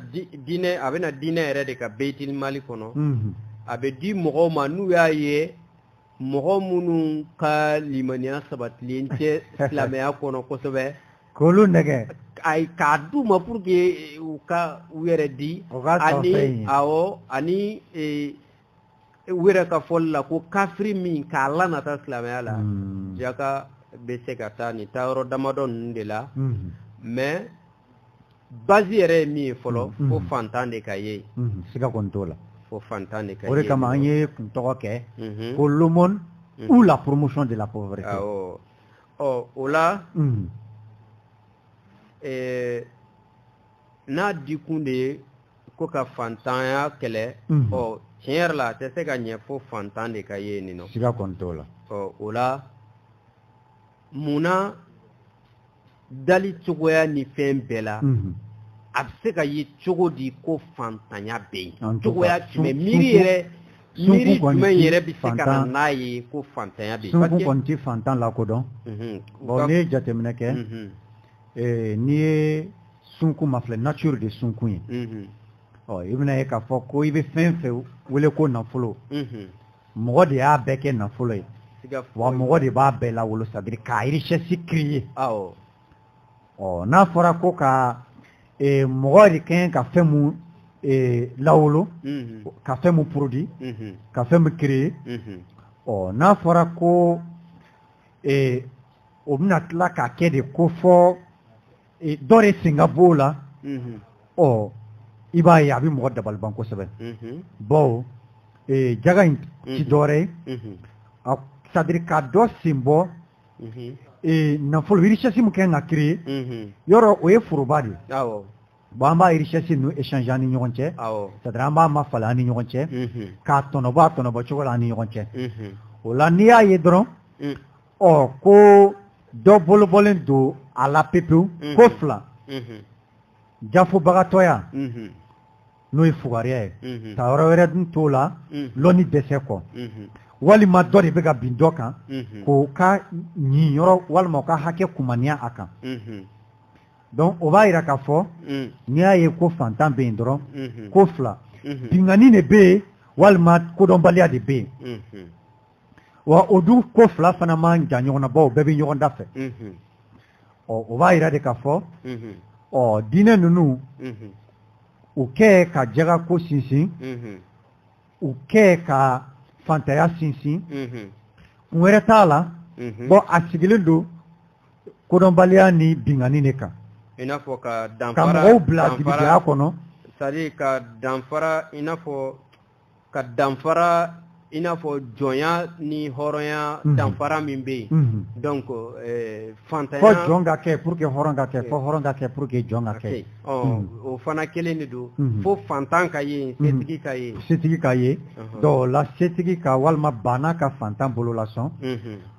diinɛ a bɛna diinɛ yɛrɛ de ka beitil mali kɔnɔ a bɛ di mɔgɔw ma n'u y'a ye mɔgɔ minnu ka limaniya sabatilen tɛ silamɛya kɔnɔ kosɛbɛ k'olu nɛgɛn ayi k'a d'u ma pour que u ka u yɛrɛ di ani awɔ ani e wɛrɛ ka fɔli la ko kafiri min k'a lanata silamɛya la hmm. jaka bɛ se ka taa nin taayɔrɔ damadɔ ninnu de la hmm. mais base yɛrɛ ye min ye fɔlɔ hmm. fo fantan de ka ye yen siga kɔni t'o la fo fantan de ka ye o de kama an ye kun tɔgɔ kɛ ko l'aumône ou la promotion de la pauvreté awɔ ɔ o la ɛɛ n'a dikun de ye ko ka fantanya kɛlɛ mhm. ɔ tiɲɛ yɛrɛ la a tɛ se ka ɲɛ fo fantan de ka ye nin nɔ siga kɔni t'o la ɔ o la mun na dali cogoya ni fɛn bɛɛ la mhm. a bɛ se ka ye cogo di ko fantanya bɛ yen cogoya jumɛn miiri yɛrɛ miiri jumɛn yɛrɛ bɛ se ka na n'a ye ko fantanya bɛ yen sunkun kɔni tɛ fantan lakodɔn mhm. ɔ n'i ye jateminɛ kɛ Ee n'i ye sunkun mafilɛ nature de ye sunkun ye. Unhun. Ɔ i bɛna ye k'a fɔ ko i bɛ fɛn fɛn wele ko nafolo. Unhun. Mɔgɔ de y'a bɛɛ kɛ nafolo ye. Siga foyi t'a la. Wa mɔgɔ de b'a bɛɛ lawolo c'est à dire ka richesse créer. Awɔ. Ɔ n'a fɔra ko ka ee mɔgɔ de ka ɲi ka fɛn min ee lawolo. Unhun. Ka fɛn min produit. Unhun. Ka fɛn min créer. Unhun. Ɔ n'a fɔra ko ee o bɛna tila k'a kɛ de ko fo e, dɔ de sen ka b'o la mhm. ɔ i b'a ye a bɛ mɔgɔ dabaliban kosɛbɛ mhm. bawo e, jaga in ti mhm. dɔwɛrɛ ye c'est-à-dire ka dɔ sen bɔ e, nafolo richesse min kɛ ka créer yɔrɔ o ye foroba de ye bon an b'a richesse ninnu échange an ni ɲɔgɔn cɛ c'est-à-dire an b'a mafalen an ni ɲɔgɔn cɛ k'a tɔnɔbɔ a tɔnɔbɔ cogo la an ni ɲɔgɔn cɛ o la n'i y'a ye dɔrɔn ɔ ko dɔ bolobɔlen don a la pepewu mhm. ko fila mhm. jafobagatɔya mhm. n'o ye fugariya ye taayɔrɔ wɛrɛ dun t'o la lɔnni dɛsɛ kɔ walima dɔ de bɛ ka bin dɔ kan k'o ka niyɔrɔ walima o ka hakɛ kumaniya a kan donc o b'a yira k'a fɔ n'i y'a ye ko fantan bɛ yen dɔrɔn ko fila binkanni de bɛ yen walima kodɔnbaliya de bɛ yen wa o dun ko fila fana man jan ɲɔgɔn na bawo bɛɛ bɛ ɲɔgɔn dafɛ o b'a yira de k'a fɔ ɔ diinɛ ninnu u kɛ ka jaga ko sinsin u kɛ ka fantanya sinsin kun wɛrɛ t'a la bon a sigilen don kodɔnbaliya ni binkanni de kan i n'a fɔ ka danfara ka mɔgɔw bila jigiya kɔnɔ c'est à dire ka danfara i n'a fɔ ka danfara i n'a fɔ jɔnya ni hɔrɔnya mhm. danfara min bɛ yen mhm. donc eh, fantanya fo jɔn ka kɛ pour que hɔrɔn ka kɛ fo eh. hɔrɔn ka kɛ pour que jɔn ka kɛ ɔ mhm. o fana kelen de don fo fantan ka ye setigi ka ye setigi ka ye donc o la setigi ka walima baana ka fantan bolo lasɔn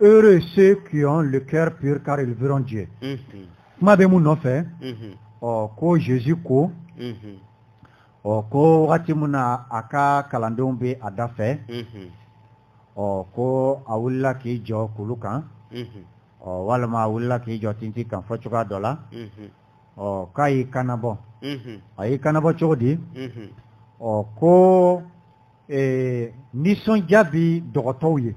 Heureux ceux qui ont le cœur pur car ils verront Dieu. Mhm. Kuma bɛ mun nɔfɛ? Mhm. Ɔ ko Jésus ko. Mhm. Ɔ ko wagati min na a ka kalandenw bɛ a dafɛ. Ɔ ko a wulila k'i jɔ kulu kan. Ɔ walima a wulila k'i jɔ tintin kan fɔ cogoya dɔ la. Ɔ k'a y'i kanabɔ. A y'i kanabɔ cogo di? Ɔ ko ee nisɔndiya bɛ dɔgɔtɔw ye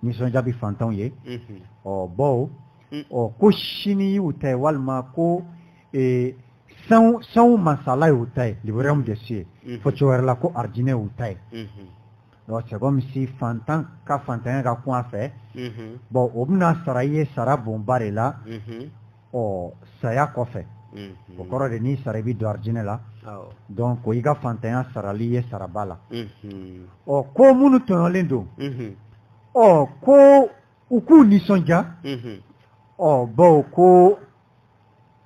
nisɔndiya bɛ fantanw ye ɔ baw ɔ ko sini y'u ta ye walima ko ee sanw masaya y'u ta ye le royaume des cieux fɔ cogo wɛrɛ la ko arijinɛ y'u ta ye c'est comme si fantan ka fantanya ka kun a fɛ bon o bɛna sara i ye sara bonba de la ɔ saya kɔfɛ mhm. o kɔrɔ de n'i sara i bɛ don arijinɛ la donc ko i ka fantanya sarala i ye saraba la mhm. ɔ ko minnu tɔɲɔlen don mhm. ɔ ko u k'u nisɔndiya ɔ bawo ko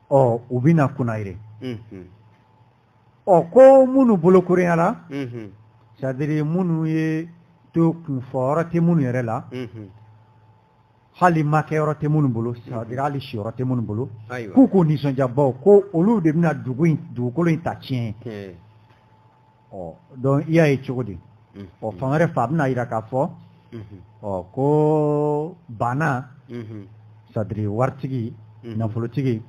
ɔ u bɛna kunnayire ɔ ko minnu bolokolonyara c'est à dire minnu ye to kunfɔyɔrɔ tɛ minnu yɛrɛ la hali ma kɛ yɔrɔ tɛ minnu bolo c'est à dire hali siyɔrɔ tɛ minnu bolo k'u k'u nisɔndiya baw ko olu de bɛna dugu in dugukolo in ta tiɲɛ ɔ donc i y'a ye cogo di ɔ fan wɛrɛ fɛ a bɛna jira k'a fɔ ɔ ko baana c'est à dire waritigi nafolotigi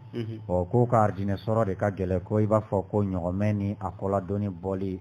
ɔ k'o ka arijinɛ sɔrɔ de ka gɛlɛn ko i b'a fɔ ko ɲɔgɔmɛ ni a kɔ la doni bɔli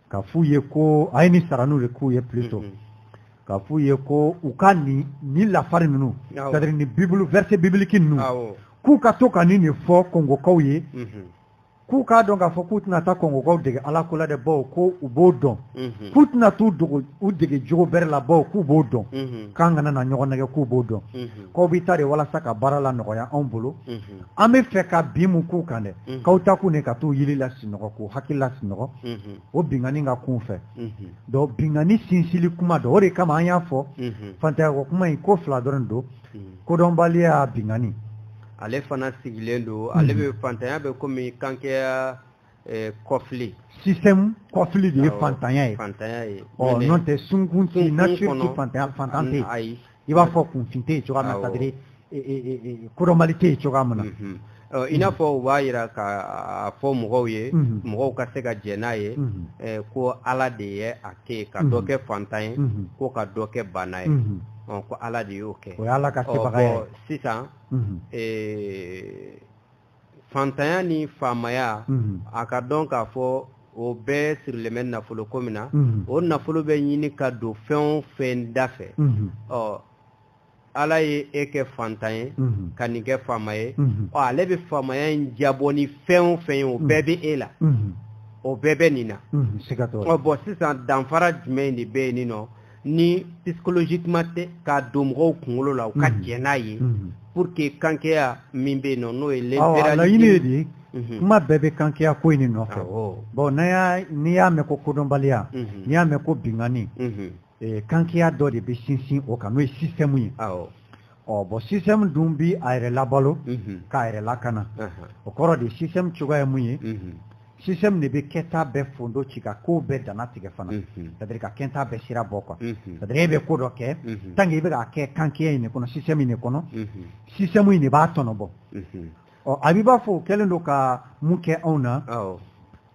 ka f'u ye ko a ye ni sara n'u ye k'u ye plutôt mm-hmm. ka f'u ye ko u ka ni ni lafari ninnu c'est à dire ni bibulu versets bibliques ninnu k'u ka to ka ni nin fɔ kɔngokaw ye mm-hmm. k'u k'a dɔn k'a fɔ k'u tɛna taa kɔngokaw dege ala ko la dɛ baw ko u b'o dɔn mm-hmm. k'u tɛna t'u dogo u dege jogo bɛrɛ la baw k'u b'o dɔn k'an kana na ɲɔgɔn nɛgɛ k'u b'o dɔn k'aw bɛ taa de walasa ka baara lanɔgɔya anw bolo an b'a fɛ ka bin mɔgɔw kan dɛ k'aw taakun de ka t'u yili lasinɔgɔ k'u hakili lasinɔgɔ o binkanni ka kun u fɛ donc binkanni sinsinni kuma don o de kama an y'a fɔ fantanyako kuma in ko fila dɔrɔn don kodɔnbaliya binkanni ale fana sigilen don ale bɛ fantanya bɛ komi kankɛya kɔfi sisan kɔfi de ye fantanya ye n'o tɛ sunkun tɛ natan ayi i b'a fɔ kunfin tɛ cogoya na c'est à dire kodɔnbali tɛ cogoya min na i n'a fɔ u b'a jira k'a fɔ mɔgɔw ye mɔgɔw ka se ka jɛn n'a ye ko ala de ye a kɛ ka dɔ kɛ fantan ye ko ka dɔ kɛ baana ye ko ala de y'o kɛ o ala ka sisan fantanya ni faamaya mhm. a k'a dɔn k'a fɔ o bɛɛ sirilen bɛ nafolo ko min na mhm. o nafolo bɛ ɲini ka don fɛn o fɛn da fɛ mhm. ɔ ala ye e kɛ fantan ye ka nin kɛ faama ye ɔ ale bɛ faamaya in jabɔ ni fɛn o fɛn ye o bɛɛ bɛ e la o bɛɛ bɛ nin na ɔ bɔn sisan danfara jumɛn de bɛ yen nin nɔ ni psychologiquement tɛ k'a don mɔgɔw kunkolo la u ka mhm. jɛn n'a ye mhm. pour que kankɛya min bɛ yen nɔ n'o ye laɲini ye de ye mhm. kuma bɛɛ bɛ kankɛya ko in de nɔfɛ bon n'a y'a n'i y'a mɛn ko kodɔnbaliya n'i y'a mɛn ko binkanni eh, kankɛya dɔ de bɛ sinsin o kan n'o ye système ye ɔ bɔn système dun bi a yɛrɛ labalo k'a yɛrɛ lakana o kɔrɔ de système cogoya ye mun ye système de bɛ kɛta bɛɛ fondo ci ka ko bɛɛ dannatigɛ fana c'est-à-dire ka kɛta bɛɛ sira bɔ quoi c'est-à-dire e bɛ ko dɔ kɛ tant que i bɛ k'a kɛ kankɛya in de kɔnɔ système in de kɔnɔ système in de b'a tɔnɔ bɔ ɔ a b'i b'a fɔ o kɛlen don ka mun kɛ anw na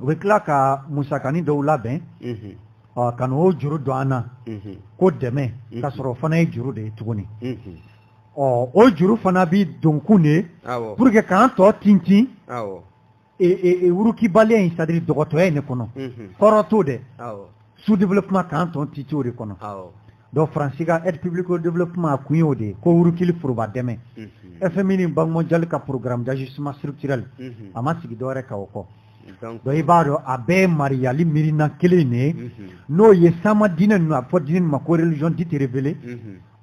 u bɛ tila ka musakanin dɔw labɛn ka n'o juru don an na ko dɛmɛ ka sɔrɔ o fana ye juru de ye tuguni ɔ o juru fana bɛ donkun de ye pour que k'an tɔ tintin wurukibaliya in c'est-à-dire dɔgɔtɔya in de kɔnɔ kɔrɔ t'o dɛ sous-développement k'an tɔ tintin o de kɔnɔ donc faransi ka aide publique au développement a kun y'o de ye ko wurukili foroba dɛmɛ mhm. fmi ni banque mondiale ka programme d'ajustement structurel mhm. a ma sigi dɔwɛrɛ kan o kɔ donc i b'a dɔn a bɛɛ ye mariyali miirina kelen de ye mhm. n'o ye sama diinɛ ninnu a fɔ diinɛ ninnu ma ko religions dites révélées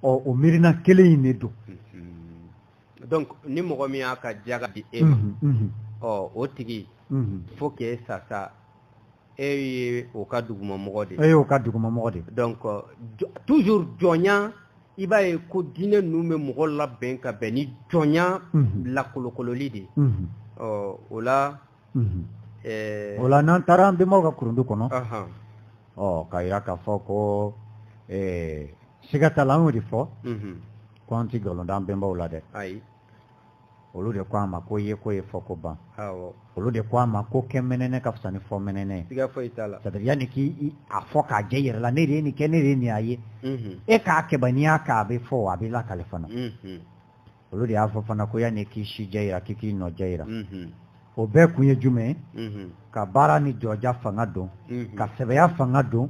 ɔ o miirina kelen in de don donc ni mɔgɔ min y'a ka jaga di e ma ɔ o tigi faut que sa sa e ye o ka dugumamɔgɔ de ye e y'o ka dugumamɔgɔ de ye donc toujours jɔnya i b'a ye ko diinɛ ninnu bɛ mɔgɔ labɛn ka bɛn ni jɔnya mhm. lakolokololi de ye mhm. ɔ o la mhm. eh, o la n'an taara an bɛnbaw ka kurundu kɔnɔ ɔ ka jira k'a fɔ ko eh, siga t'a la an y'o de fɔ ko an tɛ nkalon da an bɛnbaw la dɛ ayi olu de ko a ma ko yeko ye fɔko ban olu de ko a ma ko kɛ mɛnɛnɛ ka fisa ni fɔ mɛnɛnɛ ye yanni k'i a fɔ k'a jɛ i yɛrɛ la ne de ye nin kɛ ne de ye nin y'a ye mhm. e k'a kɛ ban n'i y'a kɛ a bɛ fɔ a bɛ lakale fana mhm. olu de y'a fɔ fana ko yanni k'i si jɛ yira k'i k'i nɔ jɛ yira mhm. o bɛɛ kun ye jumɛn ka baara ni jɔja fanga don ka sɛbɛya fanga don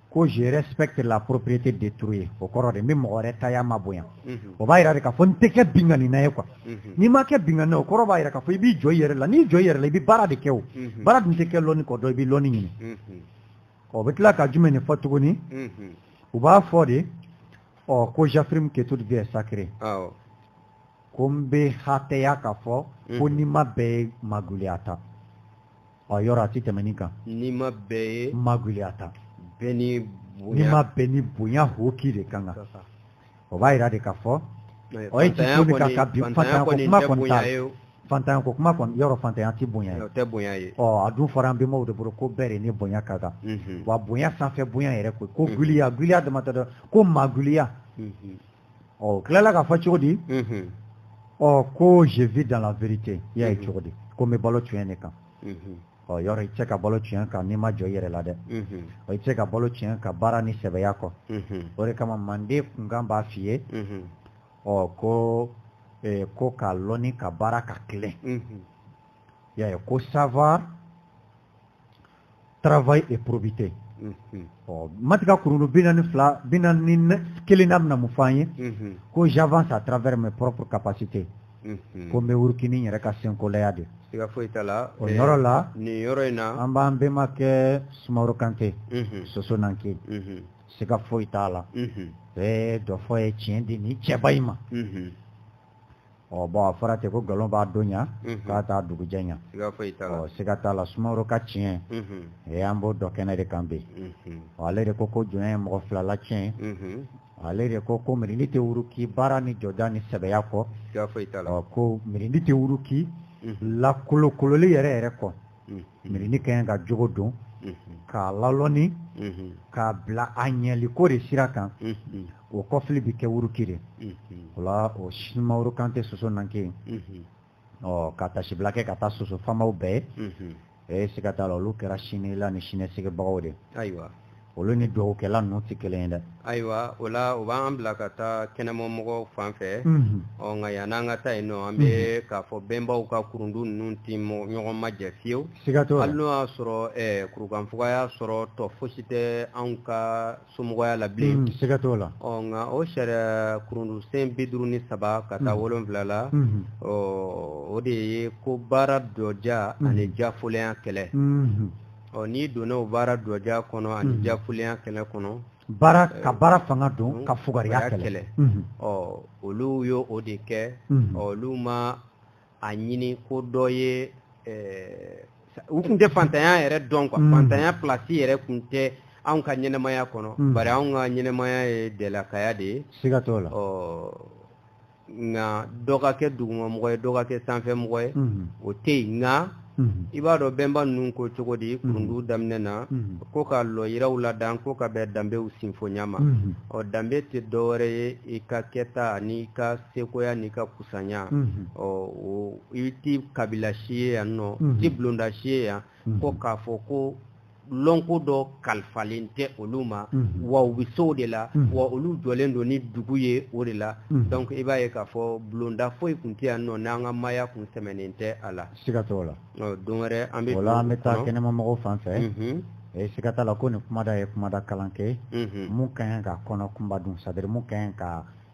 ko je respecte la propriété d'autrui ye o kɔrɔ de n bɛ mɔgɔ wɛrɛ taya mabonya mhm. o b'a yira de k'a fɔ n tɛ kɛ binkanina ye quoi mhm. n'i ma kɛ binkanina o kɔrɔ b'a yira k'a fɔ i b'i jɔ i yɛrɛ la n'i jɔ i yɛrɛ la i bɛ baara de kɛ o mhm. baara dun tɛ kɛ lɔnni kɔ donc i bɛ lɔnni ɲini o bɛ tila ka jumɛn de fɔ tuguni u b'a fɔ de ɔ ko j'affirme que toute vie est sacrée ko n bɛ hatɛya k'a fɔ ko nima bɛɛ ye maguliya ta ɔ yɔrɔ a tɛ tɛmɛ nin kan nima bɛɛ ye maguliya ta bɛɛ ni bonya nima bɛɛ ni bonya hoki de ka kan o b'a jira de k'a fɔ ɔ e ti so de kan ka bi fantanya ko kuma kɔni t'a la fantanya ko kuma kɔni yɔrɔ fantanya tɛ bonya ye o tɛ bonya ye ɔ a dun fɔra an bɛnbaw de bolo ko bɛɛ de ni bonya ka kan wa bonya sanfɛ bonya yɛrɛ ko ko giliya giliya dama tɛ dɛ ko maguliya ɔ o tilala k'a fɔ cogo di ɔ ko je vis dans la vérité i y'a ye cogo di ko n bɛ balo tiɲɛ de kan ɔ yɔrɔ i tɛ se ka balo tiɲɛ kan n'i ma jɔ i yɛrɛ la dɛ ɔ i tɛ se ka balo tiɲɛ kan baara ni sɛbɛya kɔ o de kama manden kunkan b'a f'i ye ɔ ko eh, ko ka lɔnni ka baara ka tilen i y'a ye ko savoir travail et probité ɔ matigɛ kurundu bi naani ni fila bi naani ni kelennan bɛna mun fɔ an ye ko j'avance à travers mes propres capacités ko n bɛ wuruki n yɛrɛ ka senkolaya de siga foyi t'a la o yɔrɔ la nin yɔrɔ in na an b'an bɛnbakɛ sumaworo kante soso nanke siga foyi t'a la bɛɛ dɔ fɔ ye tiɲɛ di nin cɛba in ma ɔ bɔn a fɔra ten ko nkalon b'a don ɲa nk'a t'a dugujɛ ɲa ɔ siga t'a la sumaworo ka tiɲɛ ee an b'o dɔ kɛnɛ de kan bi ɔ ale de ko ko jɔnya ye mɔgɔ fila latiɲɛ ale de ko ko mirindi tɛ wuruki baara ni jɔda ni sɛbɛya kɔ ɔ ko mirindi tɛ wuruki lakolokololi yɛrɛ yɛrɛ kɔ mirindi k'a ka jogo don k'a lalɔni k'a bila a ɲɛli ko de sira kan o kɔfili bɛ kɛ wuruki de o la o sumaworo kante soso nanke ɔ ka tasibila kɛ ka taa soso faamaw bɛɛ ye e siga t'a la olu kɛra sini la ni siniɲɛsigibagaw de olu ni dɔgɔkɛla ninnu tɛ kelen ye dɛ ayiwa o la o b'an bila ka taa kɛnɛma mɔgɔw fan fɛ ɔ nka yann'an ka taa yen ɔ an bɛ k'a fɔ bɛnbaw ka kurundu ninnu tɛ ɲɔgɔn majɛ fiyewu siga t'o la hali n'o y'a sɔrɔ kurukanfuga y'a sɔrɔ tɔ fosi tɛ anw ka somɔgɔya la bilen siga t'o la ɔ nka o sariya kurundu sen bi duuru ni saba ka taa wolonwula la ɔ o de ye ko baara dɔja ani jafolenya kɛlɛ ɔ n'i donna o baara dɔja kɔnɔ ani mhm. jakulenya kɛlɛ kɔnɔ baara ka eh, baara fanga don mhm. ka fugariya kɛlɛ mhm. ɔ olu y'o o de kɛ ɔ olu ma a ɲini ko dɔ ye eh, u tun tɛ fantanya yɛrɛ dɔn quoi fantanya pilasi yɛrɛ tun tɛ anw ka ɲɛnamaya kɔnɔ bari anw ka ɲɛnamaya ye dɛlakaya de ye siga t'o la ɔ nka dɔ ka kɛ dugumamɔgɔ ye dɔ ka kɛ sanfɛmɔgɔ ye o tɛ yen nka i b'a dɔn bɛnba ninnu ko cogo di kurundu daminɛ na ko ka lɔyɔrɔw ladan ko ka bɛn danbew sinfonya ma ɔ danbe tɛ dɔwɛrɛ ye i ka kɛta n'i ka sekoya n'i ka kusanya ɔ o i tɛ kabila si ye yan nɔ i tɛ bulonda si ye yan ko k'a fɔ ko lɔnko dɔ kalifalen tɛ olu ma mhm. wa u bɛ se o de la mhm. wa olu jɔlen don ni dugu ye o de la mhm. donc i b'a ye k'a fɔ bulonda foyi tun tɛ yan nɔ n'an ka maaya tun sɛmɛnen tɛ a la siga t'o la don wɛrɛ an bɛ o la an bɛ taa kɛnɛma mɔgɔw fan fɛ e siga t'a la ko nin kumada ye kumada kalan kɛ mun ka ɲi ka kɔnɔ kunba dun sadiri mun ka ɲi ka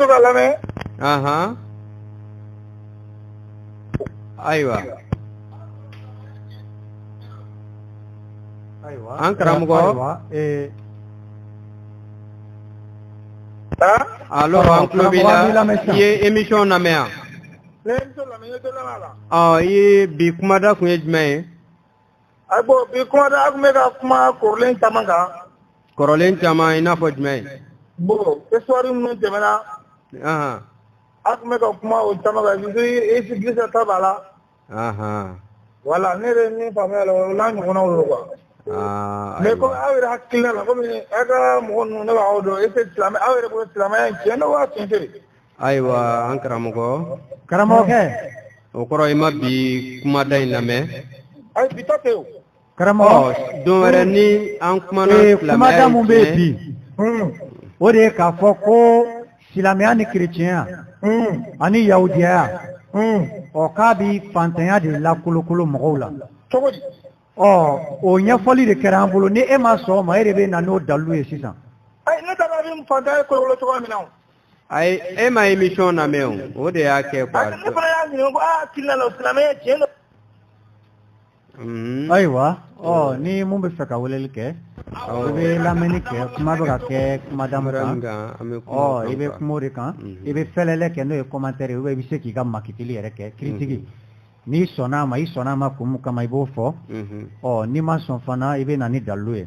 to ka lamɛn ahan ayiwa ayiwa an karamɔgɔ ayiwa ee alo an tulo b'i la i ye émission lamɛn yan ɔ i ye bi kumada kun ye jumɛn ye A bon bi kumada tun bɛ ka kuma kɔrɔlen caman kan kɔrɔlen caman i n'a fɔ jumɛn bon histoire minnu tɛmɛna a tun bɛ ka kuma o caman kan Jésus-Christ ta b'a la wala ne yɛrɛ min faamuya la o n'a ɲɔgɔnw don quoi mais kɔmi aw yɛrɛ hakilina la kɔmi aw ka mɔgɔ ninnu ne b'aw dɔn e tɛ silamɛ aw yɛrɛ bolo silamɛya tiɲɛ don wa tiɲɛ tɛ ayiwa an karamɔgɔ karamɔgɔkɛ o kɔrɔ i ma bi kumada in lamɛn ayi bi ta tɛ o karamɔgɔ ɔ don wɛrɛ ni an kumana ee kumada min bɛ yen bi o de ye k'a fɔ ko silamɛya ni kerecɛnya ani yahudiyaya ɔ k'a bɛ fantanya de lakolokolo mɔgɔw la cogo di ɔ o ɲɛfɔli de kɛra an bolo ni e ma sɔn o ma e de bɛ na n'o dalilu ye sisan ayi ne taara ni fantanya ye kolokolo cogoya min na o ayi e ma émission lamɛn o o de y'a kɛ quoi. ne fana y'a ɲininka ko aw hakilina la o silamɛya tiɲɛ don. Mm-hmm. ayiwa ɔ oh, oh. ni mun bɛ fɛ ka weleli kɛ i bɛ lamɛnni kɛ kuma bɛ ka kɛ kumada mun kan ɔ i bɛ kuma o de kan mm-hmm. i bɛ fɛlɛlɛ kɛ n'o ye kɔmantɛri ye i bɛ se k'i ka makitili yɛrɛ kɛ kiritigi mm-hmm. n'i sɔnna a ma i sɔnna a ma kun mun kama i b'o fɔ ɔ n'i ma sɔn fana i bɛ na ni dalilu ye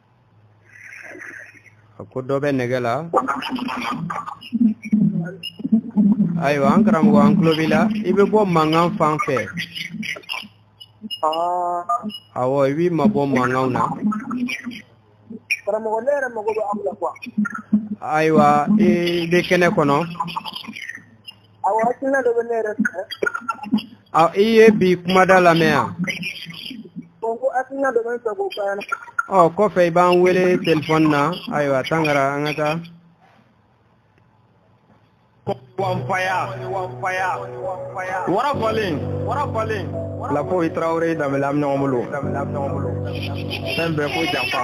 a ko dɔ bɛ nɛgɛ la ayiwa an karamɔgɔ an tulo b'i la i bɛ bɔ mankan fan fɛ awɔ i b'i mabɔ mankanw na karamɔgɔ ne yɛrɛ mago bɛ aw la quoi ayiwa i bɛ kɛnɛ kɔnɔ I ye bi kumada lamɛn yan o kɔfɛ i b'an wele téléphone na ayiwa a tan kɛra an ka taa fɔlen i tarawele da bolo fɛn bɛɛ ko janfa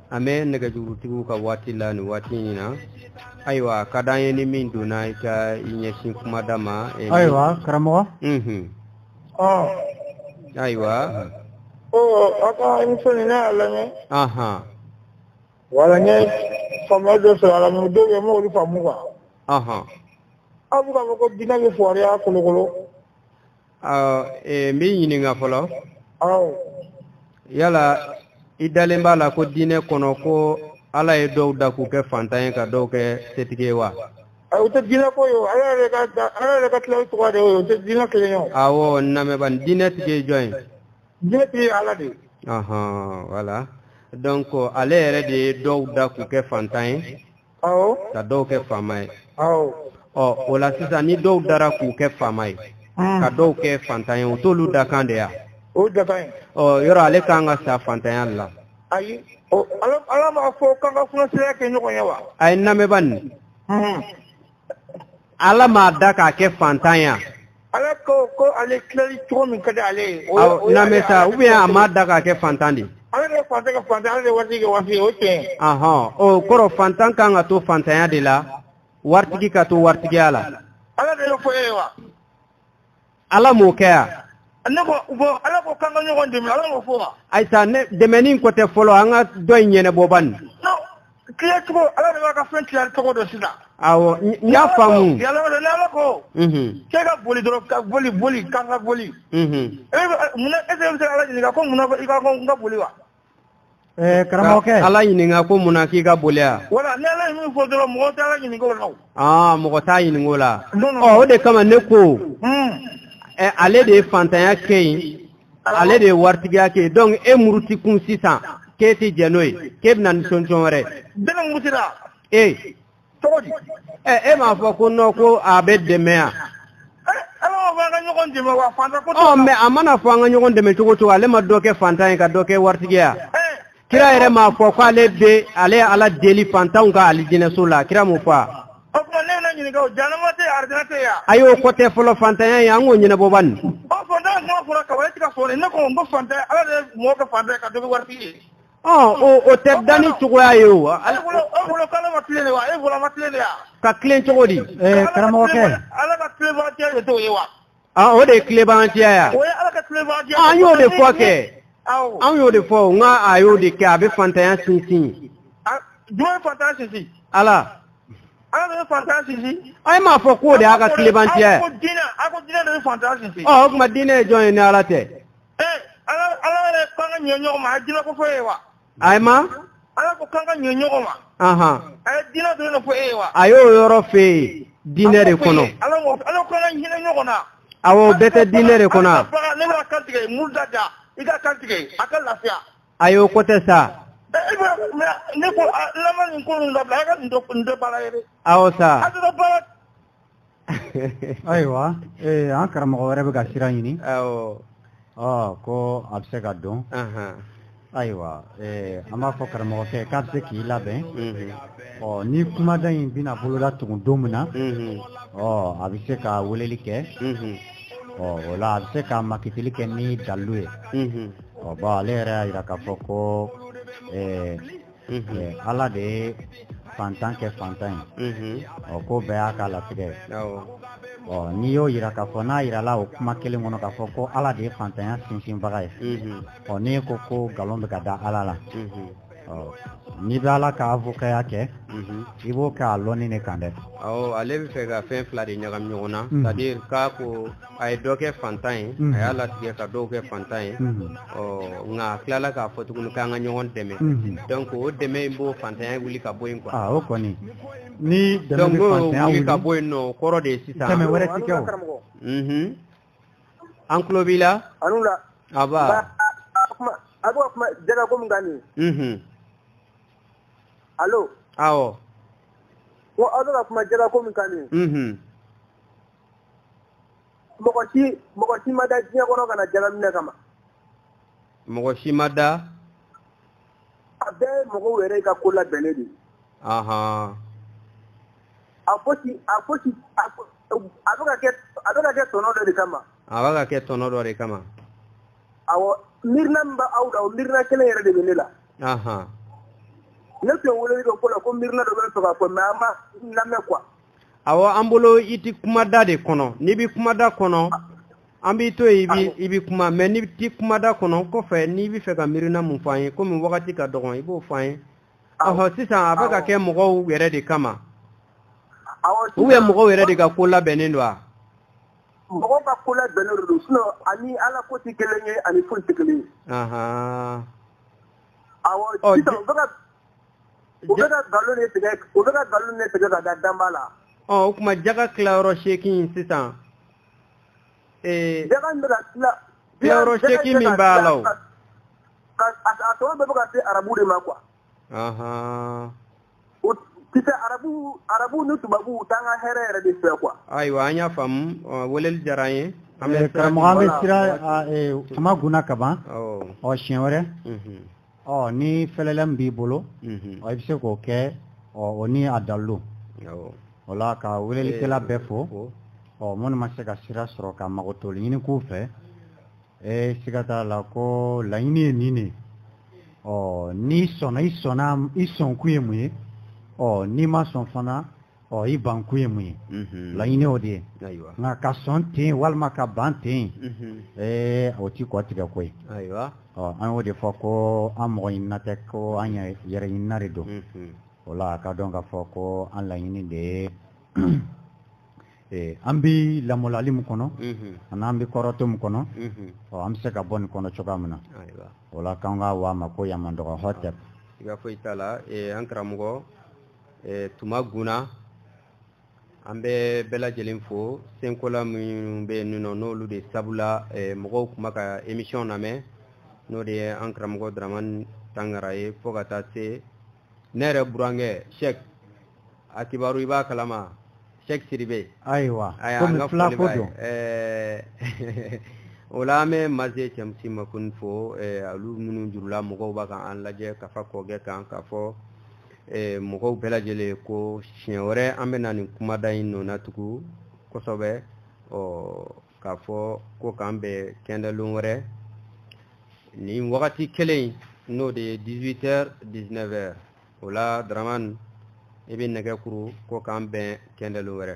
an bɛ nɛgɛjurutigiw ka waati la ni waati in na ayiwa ka d'an ye ni min donna i ka i ɲɛsin kuma da ma eh, ayiwa karamɔgɔ mhm. ayiwa aw ka émission nin ne y'a lamɛn wala n ye faamuya dɔ sɔrɔ a la mais dɔw bɛ yen n m'olu faamu quoi aw bɛ k'a fɔ ko diinɛ bɛ fugariya kolokolo n b'i ɲininka fɔlɔ yala i dalen b'a la ko diinɛ kɔnɔ ko ala ye dɔw da k'u kɛ fantan ye ka dɔw kɛ setigi ye wa o tɛ diinɛ ko ye ala yɛrɛ ka ala yɛrɛ ka tila cogo de ye o tɛ diinɛ kelen ye awɔ n lamɛn bani diinɛ tigi ye jɔn ye diinɛ tigi ye ala de ye ɔhɔn voilà donc ale yɛrɛ de ye dɔw da k'u kɛ fantan ye ka dɔw kɛ faama ye ɔ o la sisan ni dɔw dara k'u kɛ faama ye hmm. ka dɔw kɛ fantan ye o t'olu dakan de yan yɔrɔ ale k'an ka sa fantanya la ayi ala m'a fɔ k'an ka funaseya kɛ ɲɔgɔn ye wa ayi n lamɛn bani hmm. Ala m'a da k'a kɛ fantan ye ala ko ko ale tilali cogo min ka di ale ye n'an sa u a m'a da k'a kɛ fantan de ala ka fantan kɛ fantan ale waritigi kɛ waritigi o tiɲɛ ahɔn o kɔrɔ fantan ka kan ka to fantanya de la waritigi ka to waritigiya la ala de y'o fɔ e ye wa ala m'o kɛ yan ne ko bon ala ko k'an ka ɲɔgɔn dɛmɛ ala m'o fɔ wa ayi sa ne dɛmɛni ko tɛ fɔlɔ an ka dɔ in ɲɛnabɔ ban nin tila cogo ala de b'a ka fɛn tila cogo dɔn sisan awɔ n y'a faamu yala ni ala ko k'e ka boli dɔrɔn ka boli boli k'an ka boli e bɛ mun na e bɛ se ka ala ɲininka ko mun na i ka ko n ka boli wa karamɔgɔkɛ ala ɲininka ko mun na k'i ka boli voilà ni ala min fɔ dɔrɔn mɔgɔ t'ala ɲinink'o la aa mɔgɔ t'a ɲinink'o la o de kama ne ko hmm. ale de ye fantanya kɛ yen ale de ye waritigiya kɛ yen donc e muruti kun sisan k'e tɛ jɛn n'o ye k'e bɛna ni sɔnsɔn wɛrɛ ee e m'a fɔ ko nɔ ko a bɛ dɛmɛ yan mɛ a mana fɔ an ka ɲɔgɔn dɛmɛ cogo o cogo ale ma dɔ kɛ fantan ye ka dɔ kɛ waritigi ye kira yɛrɛ m'a fɔ ko ale bɛ ale ala deli fantanw ka alijinɛso la kira m'o fɔ a y'o kɔ tɛ fɔlɔ fantanya ye an k'o ɲɛnabɔ ban nin o tɛ danni cogoya ye o a ka tilen cogo di karamɔgɔkɛ o de ye tilenbaliya ye an y'o de fɔ kɛ an y'o de fɔ nka a y'o de kɛ a bɛ fantanya sinsin jɔn bɛ fantanya sinsin ala ala de bɛ fantanya sinsin an m'a fɔ k'o de y'a ka tilenbaliya ye a ko diinɛ de bɛ fantanya sinsin ɔ o tuma diinɛ ye jɔn ye ni ala tɛ ee ala ala yɛrɛ ko an ka ɲɛ ɲɔgɔn ma a ye diinɛ ko fɔ e ye wa ayiwa ala ko k'an ka ɲɛ ɲɔgɔn ma ahan a ye diinɛ dɔrɔn de fɔ e ye wa a y'o yɔrɔ f'e ye diinɛ de kɔnɔ ala ko ala ko an ka hinɛ ɲɔgɔn na awɔ o bɛɛ tɛ diinɛ de kɔnɔ a bagan n'i bɛn'a kan tigɛ muru da da i k'a kan tigɛ a ka lafiya a y'o ko tɛ sa ee bɛ mɛ ne ko a lamini ko ninnu dabila a ka nin dɔ nin dɔ baara ye dɛ awɔ sa a tɛ dɔ baara ayiwa ee an karamɔgɔ wɛrɛ bɛ ka sira ɲini ko a bɛ se ka don ayiwa an b'a fɔ karamɔgɔkɛ k'a bɛ se k'i labɛn ɔ ni kumaden in bɛna boloda tugun don min na ɔ a bɛ se ka weleli kɛ ɔ o la a bɛ se ka makitili kɛ ni dalu ye ɔ bɔn ale yɛrɛ y'a jira k'a fɔ ko ala de ye fantan kɛ fantan ye ɔ ko bɛɛ y'a ka latigɛ ye ɔ n'i y'o jira k'a fɔ n'a jirala o kuma kelen kɔnɔ k'a fɔ ko ala de ye fantanya sinsinbaga ye ɔ n'i ko ko nkalon bɛ ka da ala la n'i bɛ ala ka avokaya kɛ mhm. i b'o kɛ a lɔnni de kan dɛ ale bɛ fɛ ka fɛn fila de ɲagami ɲɔgɔn na mhm. c'est à dire k'a ko a ye dɔ kɛ fantan ye a y'a latigɛ ka dɔw kɛ fantan ye ɔ nka a tilala k'a fɔ tuguni k'an ka ɲɔgɔn dɛmɛ dɔnku o dɛmɛ in b'o fantanya wuli ka bɔ yen kuwa o kɔni ni wuli ka bɔ yen nɔ o kɔrɔ de ye sisan dɛmɛ wɛrɛ ti kɛ an tulo b'i la a a b'o kuma jɛngɛ ko min kan nin alo awɔ ko aw bɛ ka kuma jɛngɛ ko min kan nin mɔgɔ si mɔgɔ si ma da diɲɛ kɔnɔ ka na jagaminɛ kama mɔgɔ si ma da a bɛɛ ye mɔgɔw yɛrɛ ka ko labɛnnen de ahan a fosi a fosi a bɛ ka kɛ a bɛ ka kɛ tɔnɔ dɔ de kama a bɛ ka kɛ tɔnɔ dɔ de kama awɔ miirina min bɛ aw la o miirina kelen yɛrɛ de bɛ ne la ahan ne tun ye weleli kɛ ko la ko miirina dɔ bɛ ne fɛ ka fɔ mais an ma lamɛn quoi awɔ an bolo i tɛ kumada de kɔnɔ n'i bɛ kumada kɔnɔ an b'i to yen i bɛ kuma mɛ n'i tɛ kumada kɔnɔ kɔfɛ n'i bɛ fɛ ka miirina mun fɔ an ye komi wagati ka dɔgɔn i b'o fɔ an ye ɔhɔ sisan a bɛ ka kɛ mɔgɔw yɛrɛ de kama u bɛ mɔgɔw yɛrɛ de ka ko labɛnnen don wa. mɔgɔw ka ko labɛnnen de don sinon a ni ala ko tɛ kelen ye a ni foyi tɛ kelen ye. awɔ sisan u bɛ ka u bɛ ka nkalon de tigɛ u bɛ ka nkalon de tigɛ ka da danbaa la. ɔ o tuma jaga tilayɔrɔ seegin sisan. jaga in bɛ ka tila. tilayɔrɔ seegin min b'a la o. ka a tɔnɔ bɛɛ bɛ ka se arabu de ma quoi. o kisɛ arabu arabu ni tubabu u t'an ka hɛrɛ yɛrɛ de fɛ quoi. ayiwa an y'a faamu weleli diyara an ye. karamɔgɔ an bɛ sira tuma gunna kaban ɔ siɲɛ wɛrɛ. ɔ ni fɛlɛli min b'i bolo ɔ i bɛ se k'o kɛ ɔ o ni a dalilu o la ka welelikɛla bɛɛ fo ɔ minnu ma se ka sira sɔrɔ ka makotoli ɲini k'u fɛ ee siga t'a la ko laɲini ye nin de ɔ n'i sɔnna i sɔnna i sɔnkun ye mun ye ɔ n'i ma sɔn fana ɔ i bankun ye mun ye laɲini o de ye nka ka sɔn ten walima ka ban ten ee o ti kɔ tigɛ ko ye ɔ an y'o de fɔ ko an mɔgɔ ɲinina tɛ ko an yɛrɛ ɲinina de don o la a ka dɔn ka fɔ ko an laɲini de ye Eh, an bɛ lamɔlali min kɔnɔ mhm. ani an bɛ kɔrɔtɔ min kɔnɔ mhm. ɔ an bɛ se ka bɔ nin kɔnɔ cogoya min na o la k'an k'a wa ma ko yamandɔgɔ n'o tɛ i ka foyi t'a la eh, an karamɔgɔ eh, tuma guna an bɛ bɛɛ lajɛlen fo senkola minnu bɛ nin nɔ n'olu de sabu la eh, mɔgɔw kuma ka emisiyɔn lamɛn n'o de ye an karamɔgɔ daramani tangara ye fo ka taa se ne yɛrɛ burankɛ sɛk a kibaru i b'a kalama sɛk siribe ayiwa komi filako don eh, o la an bɛ maze cɛmusi makoni fo eh, olu minnu jurula mɔgɔw bɛ ka an lajɛ ka fa kɔkɛ kan k'a fɔ eh, mɔgɔw bɛɛ lajɛlen ko siɲɛ wɛrɛ an bɛna nin kumada in nɔna tugu kosɛbɛ ɔ k'a fɔ ko k'an bɛn kɛndɛlon wɛrɛ nin wagati kelen n'o de ye 18 heures 19 heures o la daramani i bɛ nɛgɛ kuru ko k'an bɛn kɛndɛlon wɛrɛ